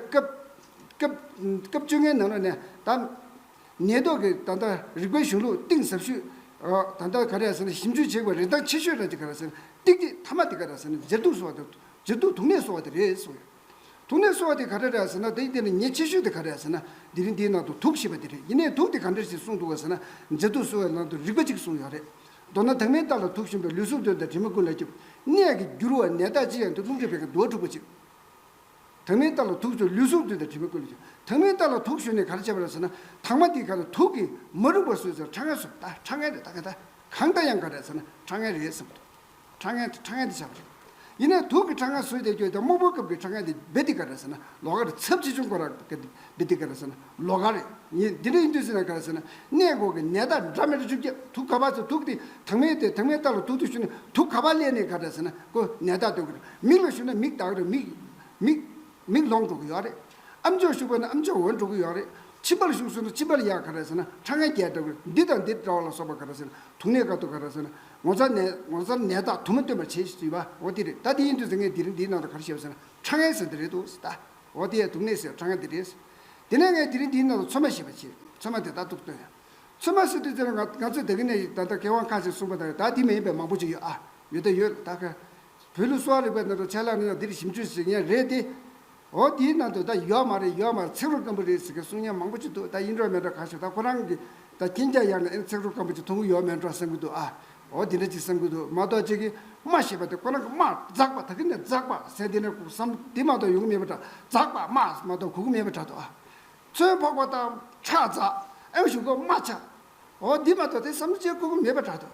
སྐབས་བཅོ་ལྔའི་ནང་ལོ་ནས་ད། ཉེས་རྡོག་གི་ད་ལྟ་རིགས་པའི་གཞུང་ལུགས་གཏིང་ཟབ་ཤོས། ད་ལྟ་ག་རེད་ཟེར་ན་ཞིབ་འཇུག་བྱེད་པའི་རིན་ཐང་ཆེ་ཤོས་རེད་འདི་ག་རེད་ཟེར་ན་ཏིག་ཏིག་མཐའ་མ་འདི་ག་རེད་ཟེར་ན་མཇེར་དུག་གསོ་བ་དང་མཇེར་དུག་དུག་ནད་གསོ་བ་དེ་རེད་གསུངས་ཡོད། དུག་ནད་གསོ་བ་དེ་ག་འདྲ་རེད་ཟེར་ན་དེ་འདི་ནི་ཉེས་ཆེ་ཤོས་དེ་ག་རེད་ཟེར་ན་དེ་རིང་འདིའི་ནང་དུ་དུག་ཞེས་པ་འདི་རེད་ཡིན་ནའི་དུག་དེ་ག་འདྲ་ཞིག་གསུངས་འདུག་ཟེར་ན་མཛེ་དུག་གསོ་བའི་ནང་དུ་རིག་པ་གཅིག་གསུངས་ཡོད་རེད། མདོར་ན་དྭངས་མའི་རྟགས་ལ་དུག་བཞིན་པའི་ལུས་གཟུགས་གདོན་དང་དྲི་མ་ཀུན་ལ་སྐྱོབ། ནད་ཀྱི་འགྱུར་བ་ནད་རྟགས་ཅི་ཡང་འདི་རླུང་ཁྲོད་བད་ཀན་དུ་བ་འཁྲུགས་པ་གཅིག། དྭངས་མའི་རྟགས་ལ་དུག་བྱུང་ལུས་གཟུགས་གདོན་དང་དྲི་མ་ཀུན་ལ་སྐྱོབ། དྭངས་མའི་རྟགས་ལ་དུག་བྱུང་ནས་ག་རེ་བྱེད་པ་རེད་ཟེར་ན་དྭངས་མ་དེ་ག་རེ་དུག་གིས་མ་རུངས་པར་བཟོས་ཟེར་ན་ཁྲག་ངན་བཟོས་པ་ད་ཁྲག་ངན་རེད་ད་ག་ད་གང་ལྟ་ཡང་ག་རེད་ཟེར་ན་ཁྲག་ངན་རེད་བསམ་གི་འདུག། ཁྲ་ངན་ཁྲ་ངན་དེ་བྱ་བ་རེད། ཡིན་ནའི་དུག་གི་ཁྲ་ངན་སོས་ཏེ་སྐྱོ་སྟེ་དམུ་བོ་སྐབས་ཀྱི་ཁྲ་ངན་དེ་སྦེ་ཏི་ཀ་རེད་ཟེར་ན་ལོག་ག་རེད་ཚབས་ཆེ་ཆུང་གོ་ར་ག་དེ་སྦེ་ཏི་ཀ་རེད་ཟེར་ན་ལོག་ག་རེད་ཡིན་འདི་འདྲ་ཡིན་དུས་ཟེར་ན་ག་རེད་ཟེར་ན་ནད་འགོག་གི་ནད་རྟགས་འདྲ་མི་འདྲ་བཅོ་བརྒྱད་དུག་ག་པ་ཟེར་དུག་དེ་དྭངས་མའི་སྟེ་དྭངས་མའི་རྟགས་ལ་དུག་དུ་ཞུ་ན་དུག་ག་པ་ཀླད་ནད་ག་རེད་ཟེར་ན་ཀོ་ནད་རྟགས་སྟོན་གི་རེད་མིག་ལ་ཞུ་ན་མིག་དག་རེད་མིག་མིག་མིག་ལོང་འགྲོ་གི་ཡོད་རེད་ཨ་མཆོག་ཞུགས་པ་ན་ཨ་མཆོག་འོན་འགྲོ་གི་ཡོད་རེད་མཆིན་པར་ཞུགས་སོང་ན་མཆིན་པར་ཡག་ག་རེད་ཟེར་ན་ཁྲ་ངན་རྒྱས་འདྲ་གི་རེད་འདི་དང་འདི་འདྲ་བ་ལ་སོགས་པ་ག་རེད་ཟེར་ན་དུག་ནད་ག་དུག་ག་རེད་ཟེར་ན་ངོ་མཚར་ནད་ངོ་མཚར་ནད་དག་དུ་མ་སྟོན་པར་བྱེད་ཅེས་ཟེར་བ་འོ་དེ་རེད་ད་དེ་ཡིན་དུས་ཟེར་ངས་དེ་རིང་འདིའི་ནང་དུ་ག་རེ་བྱས་པ་ཟེར་ན་ཁྲ་ངན་ཟེར་འདི་རེད་འདུག་ཟེར་ད་འོ་དེ་ཡ་དུག་ནད་ཟེར་ཁྲ་ངན་འདི་རེད་ཟེར་དེ་ནས་ངས་དེ་རིང་འདིའི་ནང་དུ་ཚོད་མ་ཞེས་པ་བྱས་ཚོད་མ་དེ་དག་དུག་སྟོན་ཡང་ཚོད་མ་ཟེར་དུས་དེ་ལ་ང་ང་ཚོས་ད་གིན་ནད་ཞིག་ད་ལྟ་སྐལ་བ་འཁང་ཞེས་གསུངས་པ་དང་ད་དེ་མ་ཡིན་པའི་མང་པོ་ཅིག་ཡོད་ཨ་ཡོད་ད་ཡོད་ད་ཁ་བོད་ལུགས་གསོ་བ་རིག་པའི་ནང་དུ་ཆ་ལག་ནི་ཡང་འདིར་ཞིབ་འཇུག་ཞིག་ཡིན་རེད་དེ། འོ་དེའི་ནང་དུ་ད་ཡོད་མ་རེད་ཡོད་མ་རེད་ཚིག་རུ་སྐམ་པོ་རེད་ཟེར་གི་གསུང་སྙན་མང་པོ་ཅིག་འདུག་ད་ཡིན་འགྲོ་མིན་འགྲོ་གང་ཞིག་ད་ཁོ་རང་གི་ད་ཁྱིན་རྒྱ་ཡག་ན་ཨེ་ན་ཚིག་རུ་སྐམ་པོ་ཅིག་མཐོང་གི་ཡོད་མེད་འགྲོ་བསམ་གི་འདུག་ཨ། འོ་དེ་འདྲ་ཅིག་བསམ་གི་འདུག་མ་གཏོགས་ཅིག་གིས་སྨྲ་ཞེས་པ་དེ་ཁོ་རང་གི་སྨྲ་འཛག་པ་ད་གི་ནས་འཛག་པ་ཟེར་དེ་ནས་ཁུག་སམ་དེ་མ་གཏོགས་ཡོང་གི་མེད་པ་འདྲ་འཛག་པ་སྨྲ་མ་གཏོགས་གུག་གི་མེད་པ་འདྲ་འདུག་ཨ། ཚོན་ཕོག་པ་དང་ཁྲག་འཛག་ཨེ་བཞུགས་གོ་སྨྲ་ཆ། འོ་དེ་མ་གཏོགས་དེ་བསམ་བྱའི་ཁུག་གི་མེད་པ་འདྲ་འདུག་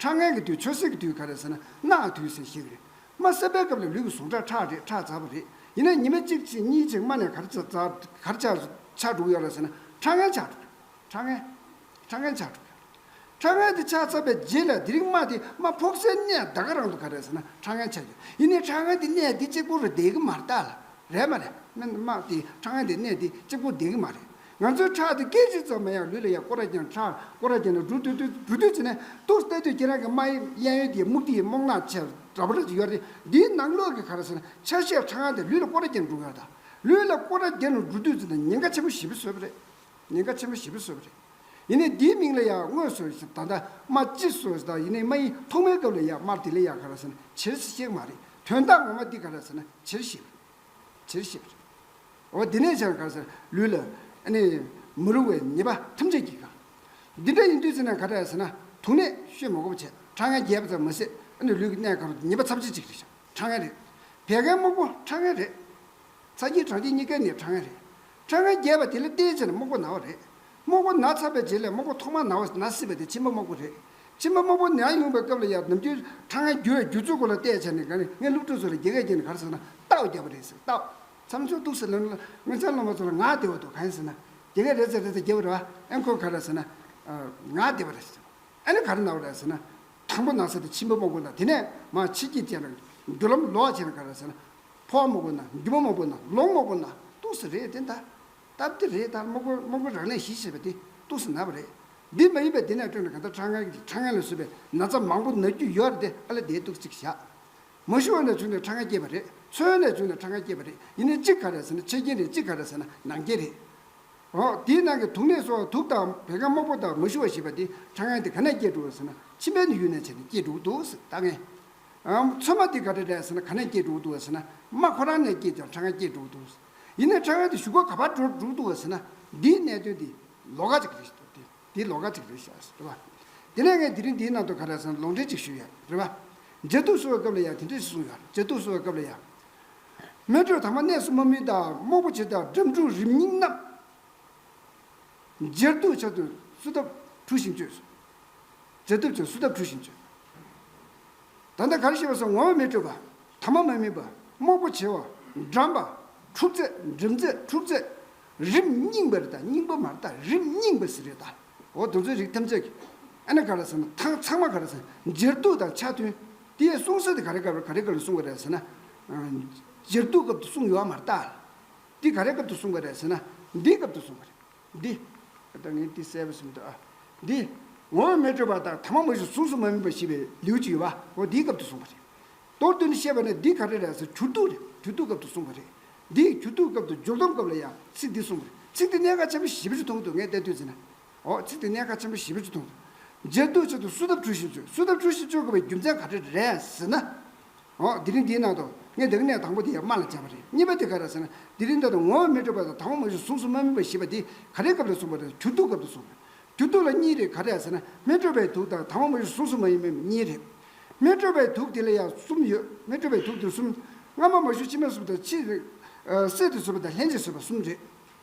ཁྲག་ངན་གྱི་དུས་ཆོས་སྲིད་ཀྱི་དུས་ག་རེ་ཟེར་ན་གནའ་གི་དུས་ཟེར་ཞེས་རེད། རྨ་སེར་པའི་སྐབས་ལས་ལུས་ཀྱི་ཟུངས་ཁྲག་ཁྲག་རེད་ཁྲག་འཛག་པ་རེད་ཡིན་ན་ཉི་མ་གཅིག་ཕྱིན་གཉིས་ཕྱིན་རྨ་ནས་གར་འཛག་གར་འཆག་འཆག་འགྲོ་གི་ཡོད་རེད་ཟེར་ན་ཁྲག་ངན་འཆག་འགྲོ་ཁྲག་ངན་ཁྲག་ངན་འཆག་འགྲོ་གི་རེད། ཁྲག་ངན་དེ་འཆག་ཚར་པའི་རྗེས་ལ་དེ་རིང་རྨ་དེ་རྨ་ཕོག་སའི་གནས་ཟླ་ག་རང་དུ་ག་རེ་ཟེར་ན་ཁྲག་ངན་འཆག་ཡོད་ཡིན་ནའི་ཁྲག་ངན་དེ་གནས་དེ་གཅིག་པུ་རུ་བསྡད་གི་མ་རེད་ད་ལ་རེད་མ་རེད་རྨ་དེ་ཁྲག་ངན་དེ་གནས་དེ་གཅིག་པུ་བསྡད་གི་མ་རེད་ང་ཚོའི་ཕྲག་ཏུ་སྐད་ཅིག་ཙམ་མ་ཡང་ལུས་ལ་ཡང་ཀོ་ར་བརྒྱན། ཕྲག་ཀོ་ར་བརྒྱན་ན་འབྲུ་བཏུད། འབྲུ་བཏུད་བྱས་ནས་ཏོག་བཏད་དུས་ཁྱེད་རང་གི་རྨ་དབྱིབས་གཡས་གཡོན་གྱི་སྨུག་ཐིག་སྨུག་ནག་ཆེ་དྲག་པོ་རེ་ཞིག་ཡོད་དེ། འདིའི་ནང་ལོགས་ཀྱི་ག་རེ་ཟེར་ན་ཆ་ཤས་ཕྲ་ཡང་དེ་ལུས་ལ་ཀོ་ར་བརྒྱན་འབྲུ་ཡོད་དོ། ལུས་ལ་ཀོ་ར་བརྒྱན་ནས་འབྲུ་བཏུད་ཚེ་ན་ཉེན་ཁ་ཆེན་པོ་ཞི་བ་བཟོས་པ་རེད། ཉེན་ཁ་ཆེན་པོ་ཞི་བ་བཟོས་པ་རེད། ཡིན་ནའི་འདིའི་མིང་ལ་ཡང་དངོས་སུ་ཞེས་ད་ལྟ་རྨ་ལྕི་ཟོས་ཟེར་ད་ཡིན་ནའི་རྨ་ཡིན་ཐོག་མའི་སྐབས་ལ་ཡང་རྨར་དེ་ལ་ཡང་ག་རེ་ཟེར་ན་བྱེར་ཞིག་ཅེས་མ་རེད་དོན་དག་ངོ་མ་འདི་ག་རེ་ཟེར་ན་བྱེར་ཞིག་རེད། བྱེད་ཤེས་པ་རེད། འོ་དེ་ནས་ཀྱང་གང་ཟེར་ལུས་ལ་ནི་མི་རུང་བའི་ཉེས་པ་ཐམས་ཅད་ཀྱིས་གང། འདི་འདྲ་ཡིན་དུས་ཚིག་ནང་ག་འདྲ་ཟེར་ན་དུག་ནད་བཤོས་མ་གོ་བ་བྱས་ཁྲག་ངན་རྒྱས་པ་ཙམ་མི་སྲིད་ནི་ལུས་ཀྱི་གནས་གང་རུང་ཉེས་པ་ཚབས་ཆེ་ཅིག་རེད་ཞག་ཁྲག་ངན་རེད། བད་ཀན་སྨུག་པོ་ཁྲག་ངན་རེད། ཚ་སྐྱིལ་གྲང་སྐྱིལ་གཉིས་ཀའི་ནད་ཁྲག་ངན་རེད། ཁྲག་ངན་རྒྱས་པ་དེ་ལ་བརྟེན་ཕྱིར་སྨུག་པོ་ན་བ་རེད། དམག་བུ་ན་ཚ་བའི་རྗེས་ལས་དམག་བུ་ཐོག་མར་ན་བ་ན་སྲིད་པ་དེ་ཕྱི་མ་དམག་བུ་རེད། ཕྱི་མ་དམག་བུ་ན་ཡོང་བའི་སྐབས་ལ་ཡར་ནམ་རྒྱུན་ཁྲ་ངན་རྒྱུ་བའི་རྒྱུ་ཚུལ་སྐོར་ལ་བལྟས་བྱས་ནས་དགའ་ནི་ངའི་སློབ་ཕྲུག་ཚོ་ལ་རྒྱལ་ཁ་སྐྱེ་ནི་ག་རེ་ཟེར་ན་རྟའོ་རྒྱབ་པ་རེད་ཟེར་རྟའོ། མཚམས་སྦྱོར་གཏུགས་ཟེར་ལབ་ན་ངའི་མཚན་སློབ་མ་ཚོ་ལ་ངག་བདེ་བ་འདུག་ག་ཡིན་ཟེར་ན་རྒྱལ་ཁ་རེད་ཟེར་རེད་ཟེར་རྒྱབ་པ་རེད་བ་ཨེ་འཁོར་ག་རེད་ཟེར་ན། ངག་བདེ་བ་རེད་ཟེར། ཨེ་ནི་ག་རེ་ན་བ་རེད་ཟེར་ན། དང་པོ་ན་ཚ་དེ་ཕྱི་མ་དམག་བུ་ན་དེ་ནས་མ་ཕྱི་སྐྱིད་བྱས་ན་རྒྱུ་ལམ་ལོག་བྱས་ན་ག་རེ་ཟེར་ན། ཕོ་བ་དམག་བུ་ན་རྒྱུ་མ་དམག་བུ་ན་ལོང་དམག་བུ་ན་གཏུགས་ཟེར་རེད་དེ་འདྲ། སྟབས་བདེ་རེད་ད་དམག་དཔོན་རང་ལས་གཞི་ཞེས་པ་དེ་སྟུག་ས་ན་བ་རེད། འདི་མ་ཡིན་པའི་འདི་ནས་སྤྲོད་ན་གང་ལྟར་ཁྲག་ངན་གྱི་ཁྲག་ངན་ལ་བཟོས་པའི་ན་ཚ་མང་པོ་ན་རྒྱུ་ཡོད་རེད་དེ་ཨ་ལེ་དེའི་སྟུག་ཚིག་བཞག། མ་ཞུ་བ་ནས་བྱུང་ནས་ཁྲག་ངན་སྐྱེས་པ་རེད་མཚོན་ཡོལ་ནས་བྱུང་ནས་ཁྲག་ངན་སྐྱེས་པ་རེད་ཡིན་ནའི་གཅིག་ག་རེད་ཟེར་ན་ཆེ་རྐྱེན་རེད་གཅིག་ག་རེད་ཟེར་ན་ནང་རྐྱེན་རེད། འོ་དེའི་ནང་གི་དུག་ནད་གསོ་བ་དུག་དང་བད་ཀན་དམག་དཔོན་དང་མ་ཞུ་བ་ཞེས་པ་དེ་ཁྲག་ངན་དེ་ག་ནས་སྐྱེས་འགྲོ་བ་ཟེར་ན་ཕྱི་མའི་ནས་ཡུལ་ནས་བྱས་ནས་སྐྱེས་འགྲོ་བ་འདུག་ཟེར་ད་ངན། མཚོན་མ་དེ་ག་རེ་རེད་ཟེར་ན་ག་ནས་སྐྱེས་འགྲོ་བ་འདུག་བ་ཟེར་ན་དམག་ཁོ་རང་ནས་སྐྱེས་ཀྱང་ཁྲག་ངན་སྐྱེས་འགྲོ་བ་འདུག། ཡིན་ནའི་ཕྲ་བའི་དེ་བཞུགས་སྒར་ག་པར་འགྲོ་འདུག་ཟེར་ན་འདིའི་གནད་དོན་དེ་ལོག་ག་ཅིག་རེད་དེ་དེ་ལོག་ག་ཅིག་རེད་ཤག་ཟེར་བ། དེ་ནས་ངས་དེ་རིང་འདིའི་ནང་དུ་ག་རེ་ཟེར་ན་ལོག་འགྲེལ་ཅིག་ཞུས་ཡོད་རེད་བ། མཇལ་དུས་གསོལ་བའི་སྐབས་ལ་ཡང་དེ་འདྲ་ཞིག་གསུངས་ཡོད་རེད་མཇལ་དུས་གསོལ་བའི་སྐབས་ལ་ཡང། སྨོན་གྲོལ་དྭངས་མ་གནས་སུ་མ་མི་དང་རྨོག་པོ་ཆེ་དང་འགྲམ་འཁྲུགས་རིམ་སྙིང་རྣམས། མཇལ་དུས་བྱ་དུས་བསུ་ཐབས་འཁྲུགས་ཤིང་བཅོས་སོ། མཇལ་དུས་བྱ་བསུ་ཐབས་འཁྲུགས་ཤིང་བཅོས། ད་ལྟ་ག་རེ་ཞེས་པ་སོགས་ངོ་བོ་མི་སྤྲོད་པ། ཐ་མ་མི་དམིགས་པ། དམག་པོ་བྱེ་བ། འགྲམ་པ། འཁྲུག་རྩད། འགྲིམ་རྩད། འཁྲུག་རྩད། རིམ་སྙིང་པོ་རེ་དང་སྙིང་པོ་མ་རེ་དང་རིམ་སྙིང་པོ་སི་རེ་དང། འོ་དོ་ཚོའི་རིགས་ཐམས་ཅད་ཀྱི། ཨེ་ན་ག་རེ་ཟེར་ན་ཐང་ཚང་མ་ག་རེ་ཟེར་ན་འགྱེར་གཏུགས་དང་ཆ་མཐུན། དེའི་གསུང་གསལ་དེ་ག་རེ་ག་རེ་ག་རེ་ག་རེ་གསུང་བ་རེད་ཟེར་ན། འགྱེར་གཏུགས་སྐབས་དུ་གསུང་ཡོད་མ་རེད་ད། འདི་ག་རེ་སྐབས་དུ་གསུང་བ་རེད་ཟེར་ན་འདིའི་སྐབས་དུ་གསུང་བ་རེད། འདི། བདག་ངས་འདི་གསལ་བར་སེམས་ཏེ། འདི། ངོ་བོ་མི་སྤྲོས་པ་དང་ཐ་མ་མ་བཞིན་གཟུགས་སུ་མ་དམིགས་པ་ཞེས་པའི་ལེའུ་གཅིག་ཡོད་པ་འོ་འདིའི་སྐབས་དུ་གསུངས་པ་རེད། མདོར་བསྡུས་ནས་བཤད་པ་ནི་འདི་ག་རེ་རེད་ཟེར་གྱུར་ཏུ་རེད་གྱུར་ཏུ་སྐབས་དུ་གསུངས་པ་རེད། འདིའི་གྱུར་ཏུ་སྐབས་དུ་སྦྱོར་སྡོམ་སྐབས་ལ་ཡང་ཚིག་འདི་གསུངས་པ་རེད་ཚིག་འདི་གནད་འགག་ཆེན་པོ་བཞི་པོ་ཆུ་འཐུང་གི་འདུག་ངས་བལྟས་དུས་ཚིག་ནི། འོ་ཚིག་འདི་གནད་འགག་ཆེན་པོ་བཞི་པོ་ཆུ་འཐུང་གི་འདུག། འབྱེད་འདུག་བྱེད་འདུག་བསུ་ཐབས་བྲུ་བཞིན་བསུས་བསུ་ཐབས་བྲུ་བཞིན་བསུས་དགོས་པའི་རྒྱུ་མཚན་ག་རེ་རེད་ཟེར་ན། འོ་དེ་རིང་འདིའི་ནང་དུ་ངས་འདི་ག་ནས་དང་པོ་དེ་ཡང་སྨྲ་ལ་སྦྱར་བ་རེད་གཉིས་པ་དེ་ག་རེད་ཟེར་ན་འདི་རིང་འདི་དང་ངོ་བོ་མི་འདྲ་བ་དང་དང་པོ་མ་བཞི་གཟུགས་སུ་མ་སྨིན་པ་ཞེས་པ་འདི་ག་རེའི་སྐབས་ལ་གསུངས་པ་རེད་གྱུར་དུག་སྐབས་ལ་གསུངས་རེད་གྱུར་དུག་ལ་གཉིས་རེད་ག་རེ་ཟེར་ན་མི་སྤྲོ་བའི་དུག་དང་དང་པོ་མ་བཞི་གཟུགས་སུ་མ་ཡིན་མིན་གཉིས་རེད། མི་སྤྲོ་བའི་དུག་དེ་ལ་ཡང་གསུམ་ཡོད་མི་སྤྲོ་བའི་དུག་དེ་གསུམ། སྔ་མ་མ་བཞི་ཕྱི་མ་གསུམ་དང་ཕྱིས། བསྲེས་ཏེ་བཟོས་པ་དང་ལྷན་ཅིག་བཟོས་པ་གསུམ་རེད།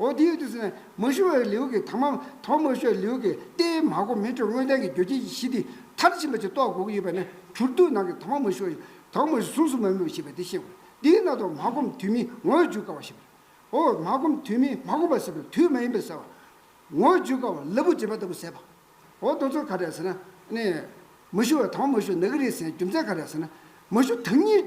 འོ་དེ་ཡོད་དུས་སུ་ནི་མ་ཞུ་བའི་ལེའུ་གི་དང་མམ་དོ་མ་ཞུ་བའི་ལེའུ་གི་ཏེ་མ་གོ་མི་སྤྲོ་དངོས་བསྟན་གྱི་རྒྱུ་རྐྱེན་གྱི་གཞི་དེ་མཐར་ཕྱིན་པ་ཅིག་རྟོགས་དགོས་ཀྱི་ཡོད་པ་ནི་གྱུར་དུས་ནང་གི་དང་མ་མ་ཞུ་བ་དང་མ་ཞུ་གཟུངས་སུ་མ་སྨོས་ཞེས་པའི་དེ་ཤེས་དགོས་དེས་ན་དོ་མ་སྒོམ་དུས་མིན་ངོ་བོས་འཇུག་དཀའ་བ་ཞེས་པ་རེད། འོ་མ་སྒོམ་དུས་མིན་མ་སྒོམ་པ་ཟེར་བའི་དུས་མ་ཡིན་པའི་ཟེར་བ། ངོ་བོ་འཇུག་དཀའ་བ་ལ་བུ་འབྱེད་པ་ལྟ་བུ་ཟེར་བ། འོ་དོ་ཚུལ་ག་རེད་ཟེར་ན་ནི། མ་ཞུ་བ་དང་མ་ཞུ་ན་གི་རེད་ཟེར་ན་རྒྱུ་མཚན་ག་རེད་ཟེར་ན། མ་ཞུ་དང་ཉིད།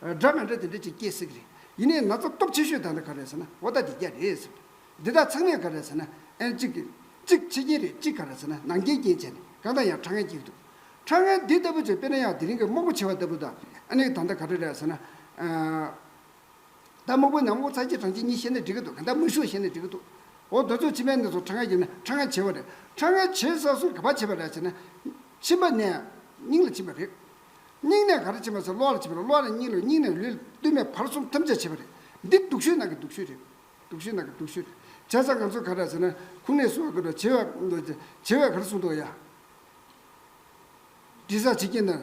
སྒྲ་མི་འདྲ་དེ་འདྲ་ཅིག་སྐྱེས་སྲིད་ཀྱི་རེད། ཡིན་ནའི་ན་ཚ་སྟོབས་ཆེ་ཤོས་དག་འདི་ག་རེད་ཟེར་ན་འོ་ད་འདི་རྒྱ་རེད་ཟེར། འདི་དག་ཚང་མས་ག་རེད་ཟེར་ན་ཨེན་ཅིག་གི། གཅིག་ཕྱི་རྒྱལ་རེད་གཅིག་ག་རེད་ཟེར་ན་ནང་རྒྱལ་རྐྱེན་བྱས་ནས་གང་ལྟར་ཡང་ཁྲ་ངན་གྱིས་འདུག། ཁྲ་ངན་འདི་ལྟ་བུ་ཅིག་དཔེར་ན་ཡང་དེ་རིང་གི་དམག་བུ་བྱེ་བ་ལྟ་བུ་དང་ཨ་ནི་ད་ལྟ་ག་རེ་རེད་ཟེར་ན། ད་དམག་བུའི་ནང་ངོ་ཚ་གཅིག་གྲངས་གཅིག་གཉིས་བཤད་ན་འགྲིག་གི་འདུག་གང་ལྟར་མི་ཤུགས་བཤད་ན་འགྲིག་གི་འདུག། འོ་དོ་ཚོ་ཕྱི་མའི་གནས་སུ་ཁྲ་ངན་གྱིས་ན་ཁྲ་ངན་བྱེ་བ་རེད། ཁྲ་ངན་བྱེ་ས་སུ་ག་པ་བྱེ་བ་རེད་ཟེར་ན། ཕྱིན་པ་ནས་སྙིང་ལ་ཕྱིན་པ་རེད། སྙིང་ནས་ག་རེ་བྱེད་མ་ཚད་གློ་བ་ལ་བྱེད་པ་རེད་གློ་བ་ལ་སྙིང་རེད་སྙིང་ནས་ལུས་ལ་བསྟུད་མས་བར་གསུམ་ཐམས་ཅད་བྱེད་པ་རེད། འདི་སྡུག་ཤོས་ནང་གི་སྡུག་ཤོས་རེད། སྡུག་ཤོས་ནང་གི་སྡུག་ཤོས་རེད། བྱས་ཙང་ང་ཚོ་ག་རེ་བྱས་ན་ཁུངས་སྣེ་སུ་བ་དགོས་དྲག་བྱེད་བས་ག་རེ་གསུངས་འདུག་ཡ། དྲི་བཟང་བྱེད་ཀྱིན་ན།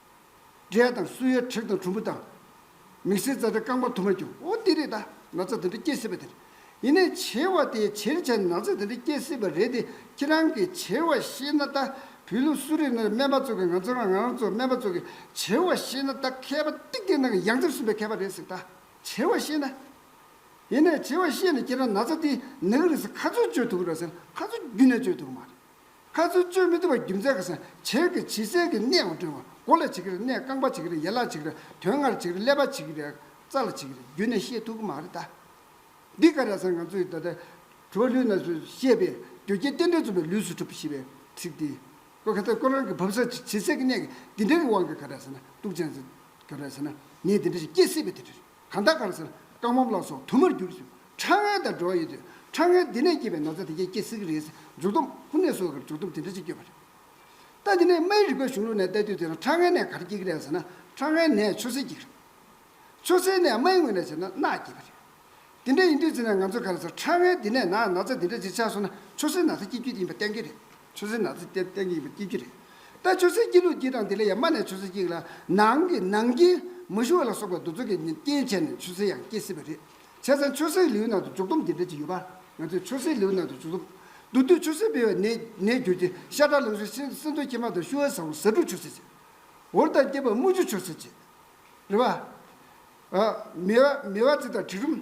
འབྲས་དང་སུ་ཡོད་དྲེག་དང་གྲུམ་བུ་དང། མིག་སེར་རྩ་འདྲ་རྐང་པ་དུ་མ་འགྱུར། འོ་འདི་རེད་ད་ན་ཚ་དེ་འདྲ་སྐྱེ་སྲིད་པ་དེར། ཡིན་ནས་བྱེར་བ་དེའི་བྱེར་བྱས་ན་ཚ་དེ་འདྲ་སྐྱེ་སྲིད་པ་རེད་དེ་ཁྱེད་རང་གི་བྱེར་བ་ཤེས་ན་ད་བུད་ལུགས་སུ་རེད་ན་སྨན་པ་ཚོ་གི་ང་ཚོ་རང་རང་ཚོ་སྨན་པ་ཚོ་གི་བྱེར་བ་ཤེས་ན་ད་མཁས་པ་ཏིག་ཏིག་ནང་གི་ཡང་རྩེར་སོན་པའི་མཁས་པ་རེད་ཟེར་ད་བྱེར་བ་ཤེས་ན། ཡིན་ནས་བྱེར་བ་ཤེས་ནས་ཁྱེད་རང་ན་ཚ་དེ་ནག་རིགས་སུ་ཁ་ཚོད་གཅོད་ཐུབ་ར་ཟེར་ན་ཁ་ཚོད་རྒྱུན་ནས་གཅོད་ཐུབ་གི་མ་རེད། བཀའ་བརྩོན་བཅོས་མི་ཐུབ་པ་རྒྱུ་མཚན་ག་སང་བྱེར་གི་བྱི་སེར་གི་གནས་འོག་དྲུད་པ་མགོ་ལ་བྱེད་ཀྱི་རེད་གནས་རྐང་པ་བྱེད་ཀྱི་རེད་ཡན་ལག་བྱེད་ཀྱི་རེད་དོན་ལྔར་བྱེད་ཀྱི་རེད་ཀླད་པ་བྱེད་ཀྱི་རེད་རྩ་ལ་བྱེད་ཀྱི་རེད་རྒྱུད་ནས་བཤད་ཐུབ་ཀྱི་མ་རེད་ད། འདི་ག་ར་སང་ང་ཚོ་ཡི་ད་ལྟ་གྲོ་ལུས་ན་ཚོས་བཤད་པའི་རྒྱུ་རྐྱེན་རྟེན་འབྲེལ་རྩོམ་པའི་ལུས་སུ་གྲུབ་ཞེས་པའི་ཚིག་འདི་ཀོ་ག་ཚ་ཀོ་རང་གི་བབ་ས་བྱི་སེར་གི་གནས་ཀྱི་འདི་འདྲ་གི་དབང་གི་ག་ར་ས་ན་གཏུག་ཅན་ཟེར་ག་ར་ས་ན་ངས་འདི་འདྲ་ཞིག་སྐྱེ་སྲིད་པའི་དེ་འདྲ་རེད། གང་དག་གང་སར་རྐང་འབམ་ལ་སོགས་དུ་མར་གྱུར་ཞིང་ཁྲག་རྔན་དང་འགྲོ་བ་ཡོད་དུས་ཁྲག་རྔན་དེ་ནས་སྐྱེས་པའི་ན་ཚ་དེ་ཁྱེད་སྐྱེ་སྲིད་ཀྱི་རེད་ཟེར་མཇུག་བསྡོམས་དབུ་ནས་སོ་གར་མཇུག་བསྡོམས་དེ་འདྲ་ཅིག་བསྐྱོད་པ་རེད། ལྟ་དེ་ནས་རྨའི་རིག་པའི་གཞུང་ལུགས་ནས་བལྟས་དུས་དེ་རང་ཁྲག་རྔན་ནས་གར་སྐྱེ་གི་རེད་ཟེར་ན་ཁྲག་རྔན་ནས་ཆུ་སེར་སྐྱེ་གི་རེད། ཆུ་སེར་ནས་རྨའི་ངོས་ནས་བྱས་ན་རྣག་སྐྱེ་བ་རེད། དེ་འདྲ་ཡིན་དུས་ཚེ་ན་ང་ཚོས་ག་ལ་ཟེར་ཁྲག་རྔན་དེ་ནས་ན་ན་ཚ་དེ་འདྲ་ཅིག་ཆགས་སོང་ན་ཆུ་སེར་ན་ཚ་སྐྱེ་རྒྱུ་དེ་ཡིན་པ་གཏན་འཁེལ་རེད། ཆུ་སྲིན་ནག་རྩི་སྟེར་སྟེར་གཉིས་པ་སྐྱིད་ཀྱི་རེད་ད། ཆུ་སྲིན་སྐྱིད་ལུག་སྐྱིད་དང་དེ་ལས་ཡང་དམའ་ནས་ཆུ་སྲིན་སྐྱིད་ལ་ནང་གི་ནང་རྐྱེན་མི་ཞུ་བ་ལ་སོགས་པའི་འདུ་ཚོགས་ཀྱི་རྐྱེན་བྱས་ནས་ཆུ་སྲིན་ཡང་སྐྱིད་སྲིད་པ་རེད། བྱས་ཙང་ཆུ་སྲིན་ལེའུ་ནང་དུ་འཇུག་སྡོམ་འདི་འདྲ་ཅིག་ཡོད་པ། ང་ཚོས་ཆུ་སྲིན་ལེའུ་ནང་དུ་འཇུག་སྡོམ། དུ་དུས་ཆུ་སྲིན་སྤེལ་བའི་གནས་གནས་གྱུར་གྱི་ཤ་ཁྲག་རླུང་ཤིང་སྲིན་སྲིན་འཚོའི་ཁྱིམ་མ་དང་ཤུ་བའི་ཟ་བུ་ཟ་འབྲུ་ཆུ་སྲིན་བྱེད། འུར་དང་སྐྱེས་པ་རྨུ་ཆུ་ཆུ་སྲིན་བྱེད། རེ་བ། མི་བ་མི་བ་རྩི་དང་དྲི་རུམ།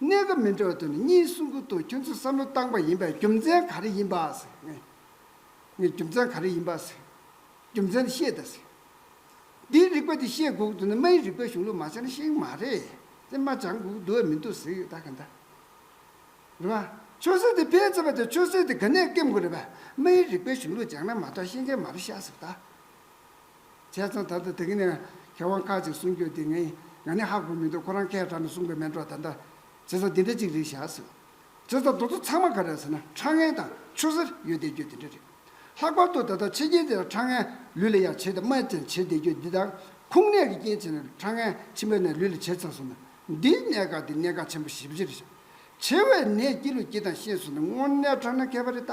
གནད་འགག་མི་འདྲ་བ་དུ་ནི་གཉིས་གསུམ་ཁུག་ཏུ་ཁྱོད་ཚོས་བསམ་བློ་བཏང་པ་ཡིན་པས་རྒྱུ་མཚན་ག་རེ་ཡིན་པ། རྒྱུ་མཚན་ག་རེ་ཡིན་པ། རྒྱུ་མཚན་དེ་ཤེས་དང། འདིའི་རིག་པ་དེ་ཤེས་དགོས་དུ་ནི་རྨ་ཡི་རིག་པའི་གཞུང་ལུགས་མ་ཤེས་ན་ཤེས་གི་མ་རེད། དེ་རྨ་སྦྱང་དགོས་ཀྱི་འདུག་ཨེ་མི་འདུག་ཟེར་གི་ད་ག་འདྲ། རེད་པ། ཆོས་སྲིད་དེ་ཕལ་ཆེ་བ་དེ་ཆོས་སྲིད་དེ་ག་ནས་སྐེམ་དགོས་རེད་པ། རྨ་ཡི་རིག་པའི་གཞུང་ལུགས་སྦྱང་ན་མ་གཏོགས་ཤེས་མཁན་མ་རུ་ཤ་ཟེར་གི་ད། བྱས་ཙང་ད་དུ་དེ་གཉིས་ནས་གྱ་དབང་དཀའ་ཅིག་གསུང་རྒྱུ་དེ་ངས་ང་ནི་ཧ་གོ་མི་འདུག་ཁོ་རང་ཁའི་བྲག་ནས་གསུང་པའི་མེ་འབྲོག་ད་ལྟ་བྱས་ཙང་འདི་འདྲ་ཅིག་རེད་བཞག་ཟེར། བྱས་ཙང་དོ་ཚོ་ཚང་མ་ག་རེད་ཟེར་ན་ཁྲ་ངན་དང་ཆུ་སེར་ཡོད་བསྡད་རྒྱུ་དེ་འདྲ་རེད། ལྷག་པར་དུ་ད་ལྟ་ཕྱི་རྒྱལ་དེར་ཁྲ་ངན་ལུས་ལ་ཡང་བྱེད་དེ་སྨད་ཙམ་བྱེད་བསྡད་རྒྱུ་འདི་དག་ཁུངས་སྣེ་གི་རྐྱེན་བྱས་ནས་ཁྲ་ངན་ཕྱི་མ་ནས་ལུས་ལ་བྱེད་ཚར་སོང་ན་འདིའི་གནད་འགག་དེ་གནད་འགག་ཆེན་པོ་བཞི་བཅུ་རེད་བཞག། བྱེ་བའི་ནད་སྐྱི་ལུ་སྐྱི་དང་ཤེས་སོང་ན་དངོས་གནས་ཁྲ་ངན་མཁས་པ་རེད་ད།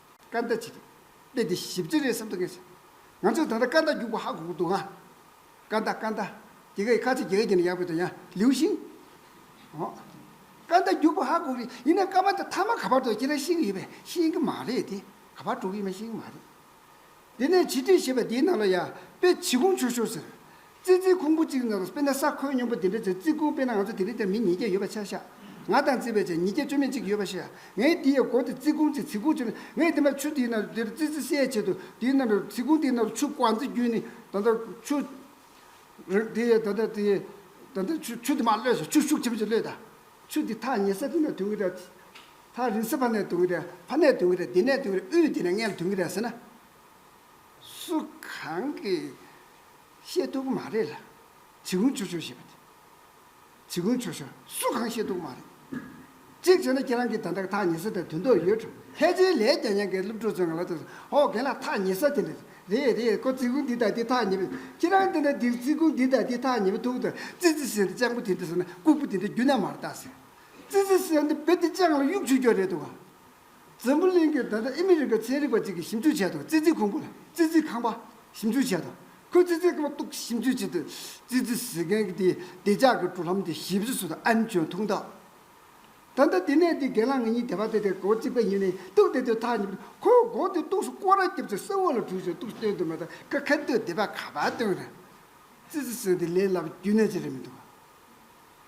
སྐར་མདའ་བྱས་ཏེ། དཔེ་དེ་ཞིབ་ཅིང་རེ་ཟུང་དུ་ངེས་སོང། ང་ཚོས་ད་ལྟ་སྐར་མདའ་རྒྱུག་པ་ཧ་གོ་གི་འདུག་ཨང། སྐར་མདའ་སྐར་མདའ། དེ་ག་ཡི་ཁ་ཚིག་རྒྱ་སྐད་ཀྱི་ནང་ཡག་པོ་དང་ཡང་ལིའུ་ཤིང། འོ། སྐར་མདའ་རྒྱུག་པ་ཧ་གོ་གི་ཡིན་ན་སྐར་མ་དེ་མཐའ་མ་ག་པར་འགྲོ་ཡི་ཁྱེད་རང་ཤེས་ཀྱི་ཡོད་པས་ཤེས་ཀྱི་མ་རེད་དེ། ག་པར་འགྲོ་གི་ཡོད་མེད་ཤེས་ཀྱི་མ་རེད། དེ་ནས་བྱི་ཁྲིད་ཞེས་པ་དེའི་ནང་ལ་ཡ་དཔེ་བྱི་ཁུང་ཆུ་ཤོར་ཟེར། ཙི་ཙིའི་ཁུང་བུ་གཅིག་ནང་དུ་དཔེར་ན་ས་ཁོལ་སྙོམས་པོ་འདི་འདྲ་ཚོའི་ཙི་ཁུང་དཔེར་ན་ང་ཚོ་དེ་རིང་འདིར་མི་ཉིས་བརྒྱ་ཡོད་པ་ཆ་ཤག། ང་དང་ཙི་བས་ཆ་ཉིས་བརྒྱ་བཅོ་མེད་གཅིག་ཡོད་པ་ཤག་ངས་འདི་ཡའི་སྒོ་དེ་ཙི་ཁུང་ཅིག་ཚི་ཁུང་ཆུ་ལ་ངས་དེ་མ་ཆུ་དེའི་ནང་དུ་འདིར་ཙི་ཙི་བསད་བྱེད་དུ་དེའི་ནང་དུ་ཚི་ཁུང་དེའི་ནང་དུ་ཆུ་ཀོང་ཙི་བརྒྱུད་ནས་ད་ལྟ་ཆུ། རེད་དེ་ཡས་ད་ལྟ་དེ་ཡས་ད་ལྟ་ཆུ་ཆུ་དེ་མ་གློད་སོང་ཆུ་ཤུགས་ཆེན་པོ་ཅིག་གློད་ད། ཆུ་དེ་ཐག་ཉེ་ས་དེ་ནས་དུང་གི་སྒྲ། ཐག་རིང་སྲིད་ཕ་ནས་དུང་གི་རེད་ཕ་ནས་དུང་གི་རེད་འདི་ནས་དུང་གི་རེད་དབུས་འདི་ནས་མངལ་དུང་གི་རེད་ཟེར་ན། སུ་གང་གིས་ཤེས་ཐུབ་ཀི་མ་རེད་ལ། བྱི་ཁུང་བྱོ་བྱོ་ཞེས་པ་དེ། བྱི་ཁུང་བྱོ་བྱོ་སུ་གང་ཤེས་ཐུབ་ཀི་མ་རེད། གཅིག་བྱས་ན་ཁྱེད་རང་གིས་ད་ལྟ་གི་ཐག་ཉེ་ས་དེར་དུང་མདོག་ཡོད་འགྲོ། ལྷས་བྱིན་ལས་རྒྱ་ཡན་གའི་སློབ་ཕྲུག་ཚོས་ང་ལ་ལྟོས་སོ། ཧོ་རྒན་ལགས་ཐག་ཉེ་ས་དེ་ནས། རེད་རེད་ཁོ་བརྩི་ཁུང་འདི་དང་འདི་ཐག་ཉེ་པོ། ཁྱེད་རང་འདི་ནས་འདི་བརྩི་ཁུང་འདི་དང་འདི་ཐག་ཉེ་པོ་ཐུག་ཐུག་ཙི་ཙི་ཟེར་ནས་སྤྱང་པོ་དེ་འདྲ་ཟེར་ན་ལྐུགས་པོ་དེ་འདྲ་རྒྱུ་ན་མར་བལྟ་ཟེར། ཙི་ཙི་གསལ་འདེབས་བེད་དེ་ལྕགས་ལ་གཡུག་བྱུགས་རྒྱུ་རེད་འདུག་ག། འཛམ་བུ་གླིང་གི་ད་ལྟ་ཨི་མི་རི་ཀ་ཚན་རིག་པ་གཅིག་གིས་ཞིབ་འཇུག་བྱས་འདུག་ཙི་ཙི་ཁུང་བུ་ལ་ཙི་ཙི་ཁང་པ་ཞིབ་འཇུག་བྱས་འདུག་ཁོས་ཙི་ཙི་ཁང་པ་གཏུགས་ཞིབ་འཇུག་བྱེད་དུས་ཙི་ཙི་ཟེར་མཁན་གྱི་དེའི་བདེ་འཇགས་ཀྱི་འགྲོ་ལམ་དེ་ཞིབ་བཟོ་དང་ཨན་ཅོན་ཐུང་ཐག་ད་ལྟ་དེ་ནས་དེ་སྒེར་ལངས་ངེད་གཉིས་དེ་བར་དེ་དེར་སྒོ་གཅིག་པའི་ཉིན་ནས་གཏུགས་བསྡད་དུས་ཐག་ཉེ་པོ་ཁོས་སྒོ་དེ་གཏུགས་སུ་ཀོ་ར་བརྒྱབ་ཚེ་ས་འོག་ལ་བྲུས་ཤིང་གཏུགས་སྟོན་དུ་མ་དང་ཀ་ཁ་སྟོད་དེ་བར་ཁ་བར་སྟོན་རེད། ཙི་ཙི་གསལ་འདེབས་ལས་སླ་བའི་རྒྱུ་གནས་ཅི་རེད་མི་འདུག་ག།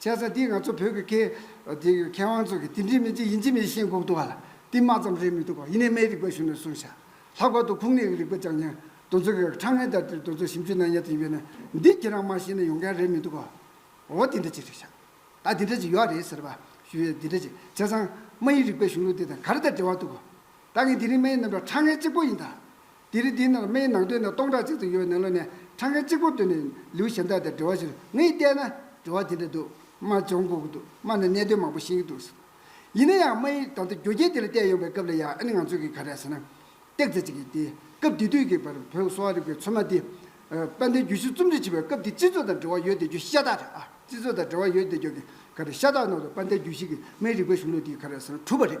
བྱས་ཙང་དེ་ང་ཚོ་བོད་ཀྱི་སྐད། དེ་ཡི་མཁས་དབང་ཚོ་གིས་དེ་འདྲའི་མི་ཅི་ཡིན་ཅི་མིན་ཤེས་འགོག་ཏུ་བ་ལ་དེ་མ་ཙམ་རེད་མི་འདུག་ག་ཡིན་ནས་མའི་རིག་པ་ཞུ་ནས་གསུངས་བྱ། ལྷག་པར་དུ་ཁུངས་སྣེ་ཡི་རིག་པ་ཅང་ཉན། དོན་ཚོ་གས་ཁྲ་ངན་དར་དིར་དོན་ཚོ་ཞིབ་འཇུག་གནང་ཡ་དེ་ཡིན་པས་ན་འདི་ཁྱེད་རང་མ་ཤེས་ན་ཡོང་མཁན་རེད་མི་འདུག་ག། འོ་དེ་འདྲ་ཅིག་རེད་བྱ། ད་དེ་འདྲ་ཅིག་ཡོད་རེད་ཟེར་བ་ཞུ་ཡས་དེ་འདྲ་ཅིག་བྱས་ཙང་མ་ཡི་རིག་པའི་གཞུང་ལུགས་དེ་དང་ག་རེ་དང་འབྲེལ་བ་འདུག་ག། ད་ངས་དེ་རིང་མ་ཡི་རྣམ་གྲངས་ཁྲ་ངན་གཅིག་པོ་ཡིན་ད། དེ་རིང་འདིའི་ནང་སྨན་ནང་དོན་ནི་སྟོང་ཕྲག་གཅིག་ཙམ་ཡོད་ནང་ལོ་ནས་ཕྲག་འགའི་གཅིག་པོ་དོན་ནི་ལིའུ་ཞན་ཐག་དེ་འབྲེལ་བ་ཞིག་ངས་བལྟས་ན་འབྲེལ་བ་དེ་འདྲ་འདུག་རྨ་སྦྱོང་དགོས་ཀྱི་འདུག་རྨ་ནས་གནད་དོན་མང་པོ་ཤེས་ཀྱི་འདུག་ཡིན་ན་ཡང་རྨ་ཡིས་ད་ལྟ་རྒྱུ་རྐྱེན་དེ་ལ་བལྟས་ཡོང་པའི་སྐབས་ལ་ཡང་ཨ་ནི་ང་ཚོས་ཀྱིས་ག་རེ་ཟེར་ན་སྟེག་རྩེ་གཅིག་གིས་དེ་སྐབས་དེ་དུས་ཀྱི་བར་བོད་གསོ་བ་རིག་པའི་ཚོད་མ་དེ་དཔལ་ལྡན་རྒྱུད་བཞི་རྩོམ་སྒྲིག་བྱེད་པའི་སྐབས་དེ་སྤྱི་ཚོགས་དང་འབྲེལ་བ་ཡོད་དེ་རྒྱུ་ཤ་སྟག་རེད་ཨ་སྤྱི་ཚོགས་དང་འབྲེལ་བ་ཡོད་དེ་རྒྱུ་ག་རེ་ཤ་སྟག་ནང་དུ་དཔལ་ལྡན་རྒྱུད་བཞི་གིས་རྨའི་རིག་པའི་གཞུང་ལུགས་དེ་ག་རེ་ཟེར་ན་གྲུབ་པ་རེད་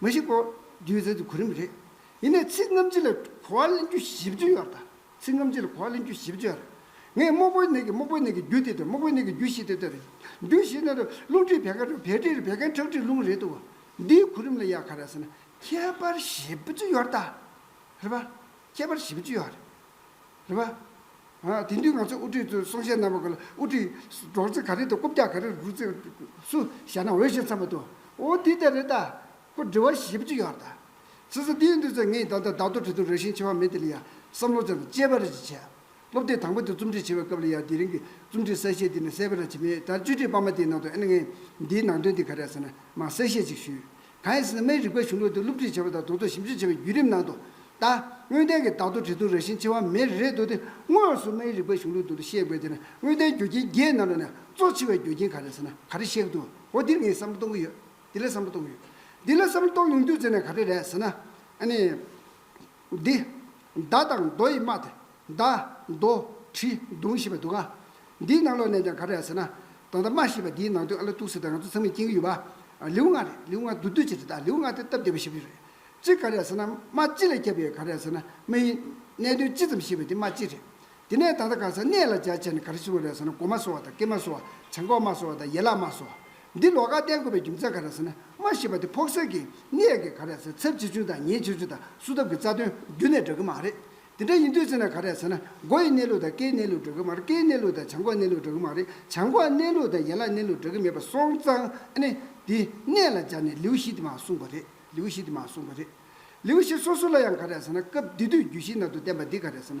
མ་གཞི་གོ་བསྡུར་མཛད་དུས་གོ་རིམ་རེད། ཡིན་ནས་ཚིག་རྔམ་བརྗིད་ལ་གོ་བ་གླེང་རྒྱུ་ཞིབ་ཏུ་ཡོད། ཚིག་རྔམ་བརྗིད་ལ་གོ་བ་གླེང་རྒྱུ་ཞིབ་ཏུ་ཡོད། ངས་དམག་པོའི་ནད་ཀྱི་དམག་པོའི་ནད་ཀྱི་རྒྱུ་དེ་དེར་དམག་པོའི་ནད་ཀྱི་རྒྱུ་བཞི་དེ་དེར། རྒྱུ་བཞི་ནི་རླུང་མཁྲིས་བད་ཀན་རུས་བད་མཁྲིས་རུས་བད་ཀན་ཁྲག་མཁྲིས་རླུང་རེད་འདུག་འདིའི་གོ་རིམ་ལ་ཡ་ག་རེད་ཟེར་ན་ཁྱད་པར་ཞིབ་ཏུ་ཡོད། རེད་པ། ཁྱད་པར་བཞི་བཅུ་ཡོད་རེད། རེད་པ། དེང་དུས་ང་ཚོའི་དབུ་ཁྲིད་གསུང་བཤད་རྣམ་པ་དག་ལ་དབུ་ཁྲིད་སྒྲོག་ཙེ་ག་རེ་དང་རྐུབ་བཀྱག་ག་རེ་རུ་རུ་སུ་བཞག་ན་འོས་ཤེས་འཚམ་པ་དུ་འོ་འདི་ལྟར་རེད་ད། ཁོ་འདྲི་བ་བཞི་བཅུ་ཡོད་རེད་ད། ཟེར་ས་འདིའི་འདུག་ཚེ་ངས་ད་ལྟ་བདག་ཐོ་བྲིས་འདུག་རེ་ཞིང་ཆེ་བ་མི་དེ་ལ་ཡང་བསམ་བློ་ཙམ་དཔྱད་པ་རེ་ཅིག་བྱས། སློབ་དེབ་དང་པོ་དེ་རྩོམ་སྒྲིག་བྱེད་པའི་སྐབས་ལ་ཡང་དེ་རིང་གི་རྩོམ་སྒྲིག་གསལ་བཤད་འདི་ནས་གསལ་པོ་ར་བྱེད་མེད་ད་བཅོས་སྒྲིག་སྤར་མ་དེའི་ནང་དུ་ཨེ་ན་ངས་འདིའི་ནང་དོན་འདི་ག་རེ་ཟེར་ན་མང་གསལ་བཤད་ཅིག་ཞུས། གང་ཡང་སྲིད་དམའི་རིག་པ་གཞུང་ལུགས་དེ་བསླུ་བྲིད་བྱེད་པ་དང་དོགས་ཚོད་ཞིབ་འཇུག་བྱེད་པའི་བརྒྱུད་རིམ་ནང་དུ། ད། དངོས་བསྟན་གྱི་བདག་ཏུ་དྲི་བསུང་རང་བཞིན་འཆི་བ་མེད་རེ་རེད་འདུག་དེ་དངོས་སུ་དམའི་རིག་པ་གཞུང་ལུགས་དུ་ལ་གཤེགས་པའི་དེ་ན་དངོས་བསྟན་རྒྱུ་རྐྱེན་བརྒྱད་རྣམས་ལ་ནི་གཙོ་ཆེ་བའི་རྒྱུ་རྐྱེན་ག་རེ་ཟེར་ན་ག་རེ་གཤེགས་འདུག་འོ་འདིར་ངས་བསམ་བློ་གཏོང་གི་ཡོད། འདི་ལ་བསམ་བློ་གཏོང་གི་ཡོད། འདི་ལ་བསམ་བློ་གཏོང་ཡོང་དུས་ཟེར་ནས་ག་རེ་རེད་ཟེར་ན། ཨ་ནི། འདི། མདའ་དང་རྡོ་ཡིས་སྨྲ་སྟེ། མདའ། རྡོ། གྲི། མདུང་ཞེས་པ་འདུག་ག། འདིའི་ནང་ལོགས་ནས་ཀྱང་ག་རེ་ཡང་ཟེར་ན། ད་ལྟ་སྨྲ་ཞེས་པ་འདིའི་ནང་དོན་ཨ་ལོ་ཏུག་ཟེར་ཏེ་ང་ཚོ་ཚང་མས་མཁྱེན་གྱི་ཡོད་པ། ལེའུ་ལྔ་རེད་ལེའུ་ལྔ་བསྡུ་སྡོད་བྱས་ཏེ་ད་ལེའུ་ལྔ་དེ་སྟབས་བདེ་བ་ཞིག་མ་རེད། གཅིག་ག་རེ་ཡང་ཟེར་ན་སྨྲ་ལྕེ་ལས་སྐྱེས་པ་ཡོད་ག་རེ་ཡང་ཟེར་ན་མི་ཡིན། གནད་དོན་ཅི་ཙམ་ཤེས་པ་དེ་སྨྲ་ལྕེ་རེད། དེ་ནས་ད་ལྟ་གང་ས་གནས་ལ་རྒྱ་ཆེར་ནི་ག་རེ་ཟེར་བ་རེད་ཟེར་ན་གོ་མ་སོ་བ་དང་ཀེ་མ་སོ་བ་བྱང་ཁོག་མ་སོ་བ་དང་ཡེ་ལག་མ་སོ་བ། འདི་ལོགས་ཀ་བསྟན་དགོས་པའི་རྒྱུ་མཚན་ག་རེ་ཟེར་ན་སྨྲ་ཤེས་པ་དེ་ཕོག་སེལ་གྱི་གནད་ཀྱིས་ག་རེ་ཟེར་ཚབས་ཆེ་ཆུང་དང་ཉེས་ཆེ་ཆུང་དང་བསུ་ཐབས་ཀྱི་རྩ་དོན་རྒྱུ་ནས་འདྲ་གི་མ་རེད། དེ་འདྲ་ཡིན་དུས་ཟེར་ན་ག་རེ་ཟེར་ན་སྒོ་ཡི་གནས་ལུགས་དང་ཀའི་གནས་ལུགས་འདྲ་གི་མ་རེད་ཀའི་གནས་ལུགས་དང་བྱང་ཁོག་གནས་ལུགས་འདྲ་གི་མ་རེད་བྱང་ཁོག་གནས་ལུགས་དང་ཡེ་ལག་གནས་ལུགས་འདྲ་གི་མེད་པ་སོང་ཙང་ཨ་ནི་འདི་གནད་ལ་སྦྱར་ནས་ལེའུ་བཞི་དེ་མ་གསུངས་པ་རེད་ལེའུ་བཞི་དེ་མ་གསུངས་པ་རེད། ལེའུ་བཞི་སོ་སོ་ལ་ཡང་ག་རེ་ཟེར་ན་སྐབས་འདི་དུས་རྒྱུད་བཞི་ནང་དུ་བསྟན་པ་འདི་ག་རེ་ཟེར་ན་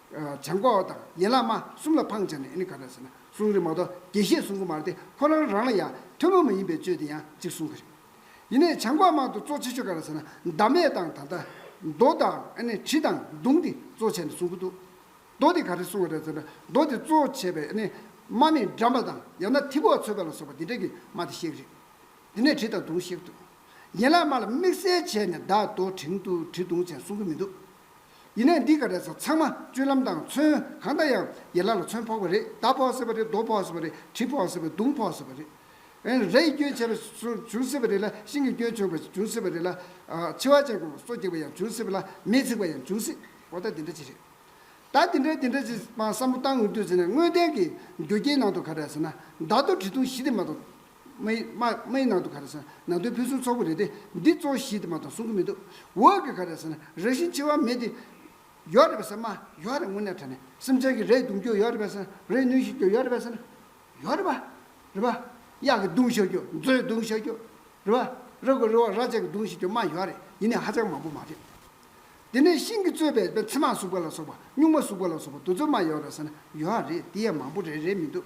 བྱང་ལྐོག་མ་དང་ཡན་ལག་མ་གསུམ་ལ་འཕང་བྱས་ནས་ནི་ག་ར་ཟེར་ན་གསུང་རིག་མ་གཏོགས་རྒྱས་བཤད་གསུང་གི་མ་རེད་དེ་ཁོ་རང་རང་ལ་ཡང་ཐུན་མོང་མ་ཡིན་པའི་བཅོས་དེ་ཡང་གཅིག་གསུང་གི་རེད། ཡིན་ནས་བྱང་ལྐོག་མ་དུ་གཙོ་ཆེ་ཤོས་ག་ར་ཟེར་ན་བདག་མེད་དང་ད་ལྟ་མདོ་དང་ནི་དྲི་དང་མདུང་དེ་གཙོ་བྱས་ནས་གསུང་གི་འདུག་མདོ་དེ་ག་རེ་གསུང་བ་རེད་ཟེར་ན་མདོ་དེ་གཙོ་བྱས་པའི་ནི་མ་ནི་འགྲམ་པ་དང་ཡང་ན་ཐིག་གོག་ཚོད་པ་ལ་སོགས་པ་དེ་འདྲ་གི་མ་དེ་བཤད་གི་རེད། དེ་ནས་དྲི་དང་མདུང་བཤད་གི་འདུག་ཡན་ལག་མ་ལ་དམིགས་བསལ་བྱས་ནས་བདག་མདོ་དྲིང་དུ་དྲི་མདུང་བྱས་གསུང་གི་མི་འདུག། ཡིན་ནས་འདི་ག་རེ་ཟ་ཚང་མ་སྤྱོད་ལམ་དང་མཚོན་གང་ལྟ་ཡང་ཡན་ལག་ལ་མཚོན་ཕོག་པ་རེད་རྡ་ཕོག་སྲིད་པ་རེད་རྡོ་ཕོག་སྲིད་པ་རེད་གྲི་ཕོག་སྲིད་པ་རེད་དུང་ཕོག་སྲིད་པ་རེད། རས་ཡི་སྐྱོན་བྱས་པ་བྱུང་སྲིད་པ་རེད་ལ་ཤིང་གི་སྐྱོན་བྱུང་བ་བྱུང་སྲིད་པ་རེད་ལ། འཆི་བ་ཅན་གོང་སོ་རྒྱག་པ་ཡང་བྱུང་སྲིད་པ་ལ་མེས་འཚིག་པ་ཡང་བྱུང་སྲིད་གོ་ད་འདི་འདྲ་ཅིག་རེད། ད་འདི་འདྲ་འདི་འདྲ་ཅིག་བསམ་བློ་བཏང་འོས་དུས་ཟེར་ནས་དངོས་བདེན་གྱི་རྒྱུ་རྐྱེན་ནང་དུ་ག་རེ་ཟེར་ན་མདའ་རྡོ་གྲི་དུང་བཞི་དེ་མ་གཏོགས་དམའི་ནང་དུ་ག་རེ་ཟེར་ན་ནང་དོན་ཕུན་སུམ་ཚོགས་པོ་རེད་དེ་འདི་གཙོ་བོ་ཞིག་དེ་མ་གཏོགས་གསུང་གི་མི་འདུག་འོག་གི་ག་རེ་ཟེར་ན་རང་བཞིན་འཆི་བ་མེད་དེ་ཡོད་རེད་པས་ཟེར་ན་ཡོད་རེད་དངོས་གནས་དྲན་ནས་སེམས་ཅན་གྱི་རེས་གདུང་རྒྱུ་ཡོད་རེད་པས་ཟེར་ན་རེས་གནོན་ཤིག་རྒྱུ་ཡོད་རེད་པས་ཟེར་ན་ཡོད་རེད་པ་རེད་པ། གཡག་གི་གདུང་བཤགས་རྒྱུ་མཛོའི་གདུང་བཤགས་རྒྱུ་རེད་པ། ར་དགུ་རི་བོ་ར་ཅན་གྱི་གདུང་བཤིག་རྒྱུ་མ་ཡོད་རེད་ཡིན་ནའི་ཧ་ཅང་མང་པོ་མ་རེད། དེ་ནས་ཤིང་གིས་གཙོས་པའི་ཚེར་མ་ཟུག་པ་ལ་སོགས་པ་སྨྱུག་མ་ཟུག་པ་ལ་སོགས་པ་དུ་ཚོད་མ་ཡོད་རེད་ཟེར་ན་ཡོད་རེད་དེ་ཡང་མང་པོ་རེད་རེད་མི་འདུག།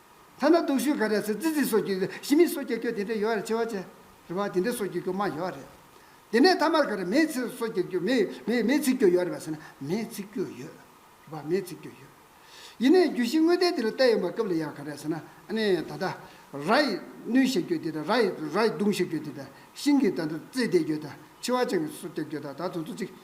ཐ་ན་དུག་ཤུལ་ག་རེ་སེ་ཙི་ཙི་སོགས་ཀྱི་ཞི་མི་སོགས་ཀྱི་སྐྱོ་དེ་འདྲ་ཡོད་རེད་ཆེ་བ་ཆེ་རེད་བ་དེ་འདྲ་སོགས་ཀྱི་སྐྱོ་མང་ཡོད་རེད། དེ་ནས་མཐའ་མར་ག་རེ་མེས་ཚིག་སོགས་ཀྱི་སྐྱོ་མེས་མེས་ཚིག་སྐྱོ་ཡོད་རེད་བ་ཟེར་ན་མེས་ཚིག་སྐྱོ་ཡོད་རེད་བ་མེས་ཚིག་སྐྱོ་ཡོད། ཡིན་ནའི་རྒྱུ་བཞི་དངོས་བསྟན་དེ་ལ་བལྟས་ཡོང་བ་སྐབས་ལ་ཡང་ག་རེ་ཟེར་ན་ནི་ད་ལྟ་ར་ཡི་སྣུན་ཞེས་སྐྱོ་དེ་དང་ར་ཡི་ར་ཡི་གདུང་ཞེས་སྐྱོ་དེ་དང་ཤིང་གི་ད་ལྟ་རྩེ་དེ་སྐྱོ་དང་ཆི་བ་ཅང་གི་སོགས་ཀྱི་སྐྱོ་དང་ད་དུང་ཚོ་ཚིག་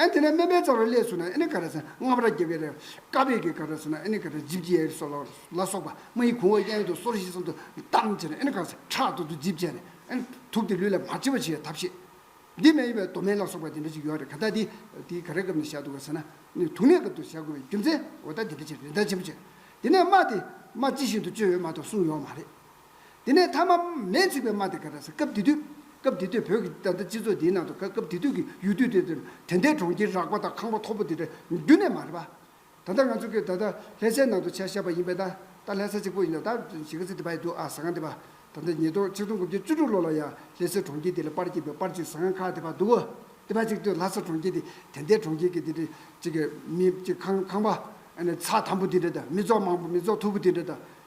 ཨན་དེ་ནས་སྨན་པའི་རྩ་རུ་སླས་སུ་ན་ཨེ་ནི་ཀ་ར་སན་རྔམ་ར་རྒྱལ་བའི་རེ། ཀ་བའི་གའི་ཀ་ར་སུ་ན་ཨེ་ནི་ཀ་ར་རྗིབ་རྗེ་ཡའི་སོ་ལ་སོགས་པདྨ་ཡི་གུང་བ་གཡས་དུ་སོར་བཞི་གསུམ་དུ་བལྟམས་བྱས་ནས་ཨེ་ནི་ཀ་སན་ཁྲག་ཏུ་དུ་རྗིབ་བྱས་ནས་ཨེ་ནི་དུག་དེ་ལུས་ལ་མ་མཆི་བར་བྱེད་པའི་ཐབས་ཤེས། འདི་མ་ཡིན་པའི་མདོ་སྨན་ལ་སོགས་པ་དེ་འདྲ་ཞིག་ཡོད་རེད་ག་ད་དེ་དེའི་ག་རེ་སྐབས་ནས་བཞག་འདུག་ག་སན་ན་ནི་དུག་ནད་སྐབས་དུ་བཞག་དགོས་པའི་རྒྱུ་མཚན་འོ་ད་དེ་འདྲ་བྱས་རེ་འདྲ་བྱེད་པོ་བྱས། དེ་ནས་རྨ་དེ་རྨ་ཅི་བཞིན་དུ་བཅོས་ཡོད་མ་གཏོགས་གསུངས་ཡོད་མ་རེད། དེ་ནས་མཐའ་མ་མེས་ཚིག་པའི་མ་དེ་ག་ར་ས་སྐབས་དེ་དུས་སྐབས་དེ་དུས་བོད་ཀྱི་ད་ལྟ་སྤྱི་ཚོགས་འདིའི་ནང་དུ་ག་སྐབས་དེ་དུས་ཀྱི་ཡུལ་དུས་དེ་དུས་དེ་འདའི་གྲོང་ཁྱེར་རགས་པ་དང་ཁང་པ་མཐོ་པོ་དེ་འདྲ་རྒྱུ་ནས་མ་རེད་པ། ད་ལྟ་ང་ཚོ་གིས་ད་ལྟ་ལྷས་སའི་ནང་དུ་བྱ་བཞག་པ་ཡིན་པས་ན་ད་ལྷས་ས་གཅིག་པོ་ཡིན་ལ་ད་གཞིས་ཀ་རྩེ་དེ་བ་ཡི་འདུག་ཨ་ཟ་ཁང་དེ་བ་ད་ལྟ་ཉིས་སྟོང་ཆིག་སྟོང་དགུ་བརྒྱ་བཅུ་དྲུག་ལོ་ལ་ཡང་ལྷས་སའི་གྲོང་ཁྱེར་དེ་ལ་པར་སྐྱིད་པའི་པར་གཅིག་ཟ་ཁང་ཁག་དེ་བ་འདུག་དེ་བ་གཅིག་དུས་ལྷ་ས་གྲོང་ཁྱེར་དེ་དེ་འདའི་གྲོང་ཁྱེར་གྱི་དེ་འདྲ་གཅིག་མི་གཅིག་ཁང་ཁང་པ་ཨ་ནི་ཚ་དམ་པོ་དེ་འདྲ་དང་མི་ཚོགས་མང་པོ་མི་ཚོགས་མཐུག་པོ་དེ་འདྲ་དང།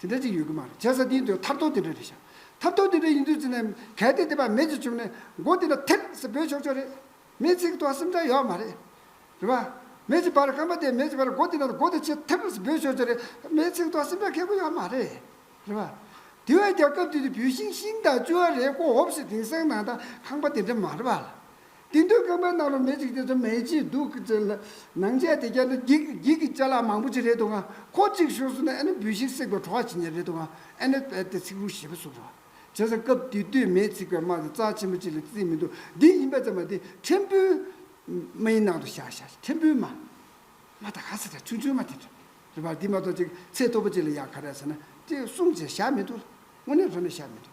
དེ་འདྲ་ཅིག་ཡོད་གི་མ་རེད་བྱས་ཙང་དེའི་དོན་ཐབས་ཐོག་དེ་འདྲ་རེད་བྱ། ཐབས་ཐོག་དེ་འདྲ་ཡིན་དུས་ཙི་ནའི་གལ་ཏེ་དེ་བ་མེད་ཅིག་བྱུང་ནས་མགོ་དེ་འདྲ་ཐེབ་ཟེར་བོས་ཆོག་ཆོག་རེད། མེད་ཚིག་ཐོག་སེམས་ཁྲལ་ཡོད་མ་རེད། རེད་པ། མེད་ཀྱི་བར་སྐམ་པ་དེ་མེད་ཀྱི་བར་མགོ་དེ་འདྲ་མགོ་དེ་ཆེ་ཐེབ་ཟེར་བོས་ཆོག་ཆོག་རེད། མེད་ཚིག་ཐོག་སེམས་ཁྲལ་ཁེགས་པོ་ཡོད་མ་རེད། རེད་པ། དེ་བས་ཀྱང་སྐབས་དེ་དུས་བུད་ཤིང་ཤིང་དང་བཅུ་བ་རེ་ཀོ་འོབས་སེ་དེང་སང་ནང་དང་ཁང་པ་དེ་འདྲ་མ་རེད་པ། དེ་འདོད་རྐང་པའི་ནང་རུ་མེ་གཅིག་དེ་ཚོ་མེ་ལྕེའི་རྡུལ་གྱིས་བཙིར་ལ། ནང་ཆས་དེ་རྒྱབ་ན་བགེགས་བགེགས་ཀྱི་བྱ་གླག་མང་པོ་ཅི་རེད་དུ་འང་ཁོ་གཅིག་ཤོར་སོང་ན་ཨེ་ན་བུད་ཤིང་བསྲེགས་པའི་བྲོ་བ་ཇི་སྙེད་རེད་དུ་འང་ཨེ་ན་བལ་ཏེ་ཚིག་རུང་ཞེས་པ་གསུངས་སོ། བྱས་ཙང་སྐབས་དེ་དུས་མེས་ཚིག་པའི་དམག་གི་རྩ་ཆེན་པོ་གཅིག་ལ་བརྩིས་མི་འདུག་འདི་ཡིན་པ་ཙམ་མ་དེ་ཕྲན་བུའིམའི་ནང་དུ་བཞག་བཞག་ཕྲན་བུའིམ་མ་ད་ག་ཟེ་ད་ཆུང་ཆུང་མ་དེ་རེད་རེད་པ་འདི་མ་གཏོགས་ཅིག་ཚེ་སྟོབས་པོ་གཅིག་ལ་ཡང་ག་རེ་ཟེ་ན་དེ་གསུངས་བྱས་བཞག་མི་འདུག་ལ་དངོས་གནས་ལྷོད་ན་བཞག་མི་འདུག།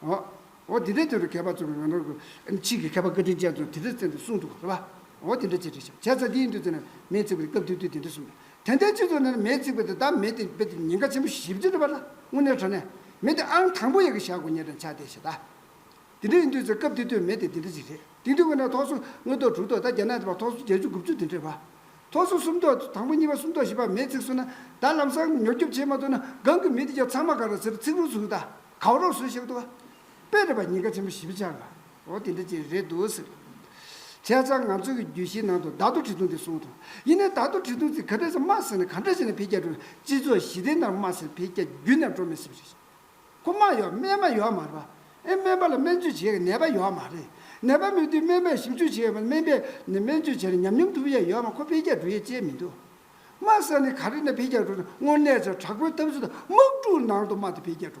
ཨོ། ཨོ་དེ་འདྲའི་དོན་དུ་མཁས་པ་ཚོས་ང་རང་གི་ཕྱིས་ཀྱི་མཁས་པ་བཀའ་དྲིན་ཅན་ཚོས་དེ་འདྲ་བཙལ་ནས་གསུངས་འདུག་གོ། ཨོ་དེ་འདྲ་ཅི་རེད་བྱས་ཙང་དེ་ཡིན་དུས་དེ་ནི་མེས་བརྩིགས་པ་དེ་སྐབས་དུས་དུས་དེ་འདྲ་གསུངས་འདུག་དེ་འདྲའི་སྤྱི་ཚོགས་ནང་ནས་མེས་བརྩིགས་པ་དེ་དག་མེ་དེ་རྦད་དེ་ཉེན་ཁ་ཆེན་པོ་ཞིག་བྱེད་འདོད་པ་ལ་དངོས་གནས་བྲོ་ནས་མེ་དེ་ཨང་དང་པོ་ཡག་གི་བཞག་དགོས་ངེས་དྲན་ཆགས་བསྡད་བྱས་ད། དེ་འདྲ་ཡིན་དུས་ཚོད་སྐབས་དུས་དུས་མེ་དེ་དེ་འདྲ་ཅི་རེད་དེང་དུས་ཁོ་ནའི་ཐོག་སོ་དངོས་ཐོག་དྲུག་ཐོག་ད་རྒྱ་ནག་དེ་བར་ཐོག་སོ་བརྒྱད་ཅུ་དགུ་བཅུ་དེ་འདྲའི་བར། ཐོག་སོ་གསུམ་ཐོག་དང་པོ་གཉིས་པ་གསུམ་ཐོག་བཞི་བར་མེ་བརྩིགས་སོང་ན་ད་ལམ་སང་ཉོ་སྐྱོབ་བྱས་མ་ཐུབ་ན་སྒང་གི་མི་དེ་རྒྱ་ཚང་མ་ག་ར་ཟེར་བར་བརྩིགས་རུང་བཟུང་ད། གང་རུང་སུ་ཞིག་ཏུ། དཔེ་རིས་པ་གཉིས་ཀ་ཆེན་པོ་བཞི་བཅར་བ། འོ་དེ་འདྲ་ཅིག་རེད་འདུག་ཟེར། ཁྱེད་ཅག་ང་ཚོ་གི་རྒྱུད་བཞིའི་ནང་དུ་བདག་ཏུ་ཁྲི་འཐུང་དེ་གསུངས་འདུག་ཡིན་ནའི་བདག་ཏུ་ཁྲི་འཐུང་ཚིག་ག་འདྲ་ཞིག་སྨྲ་ཟེར་ན་ག་འདྲ་ཞིག་ནས་བེད་སྐྱལ་འགྲོ། སྤྱི་ཚོགས་ཞི་བདེ་ནར་སྨྲ་ཟེར་བེད་སྐྱལ་རྒྱུ་ནས་འགྲོ་མི་སྲིད་པ་རེད། ཁོ་སྨྲ་ཡོད་སྨྲས་མ་ཡོད་མ་རེད། ཨེ་སྨན་པ་ལ་སྨན་བཅོས་བྱེད་ཡས་ནད་པ་ཡོད་མ་རེད། ནད་པ་མེད་དུས་སྨན་པས་ཞིབ་འཇུག་བྱེད་ཡས་མ་རེད་སྨན་པས་ནི་སྨན་བཅོས་བྱས་ནས་ཉམས་མྱོང་ཐུབ་ཡས་ཡོད་མ་ཁོ་བེད་སྐྱལ་འགྲོ་ཡས་ཅེས་མི་འདུག། སྨྲ་ཟེར་ནས་ག་རེ་ནས་བེད་སྐྱལ་འགྲོ་ན་དངོས་གནས་ཆ་དྲག་པོའི་ཐབས་ཤུགས་དང་དམག་འཁྲུག་ནང་དུ་སྨྲ་དེ་བེད་སྐྱལ་འགྲོ།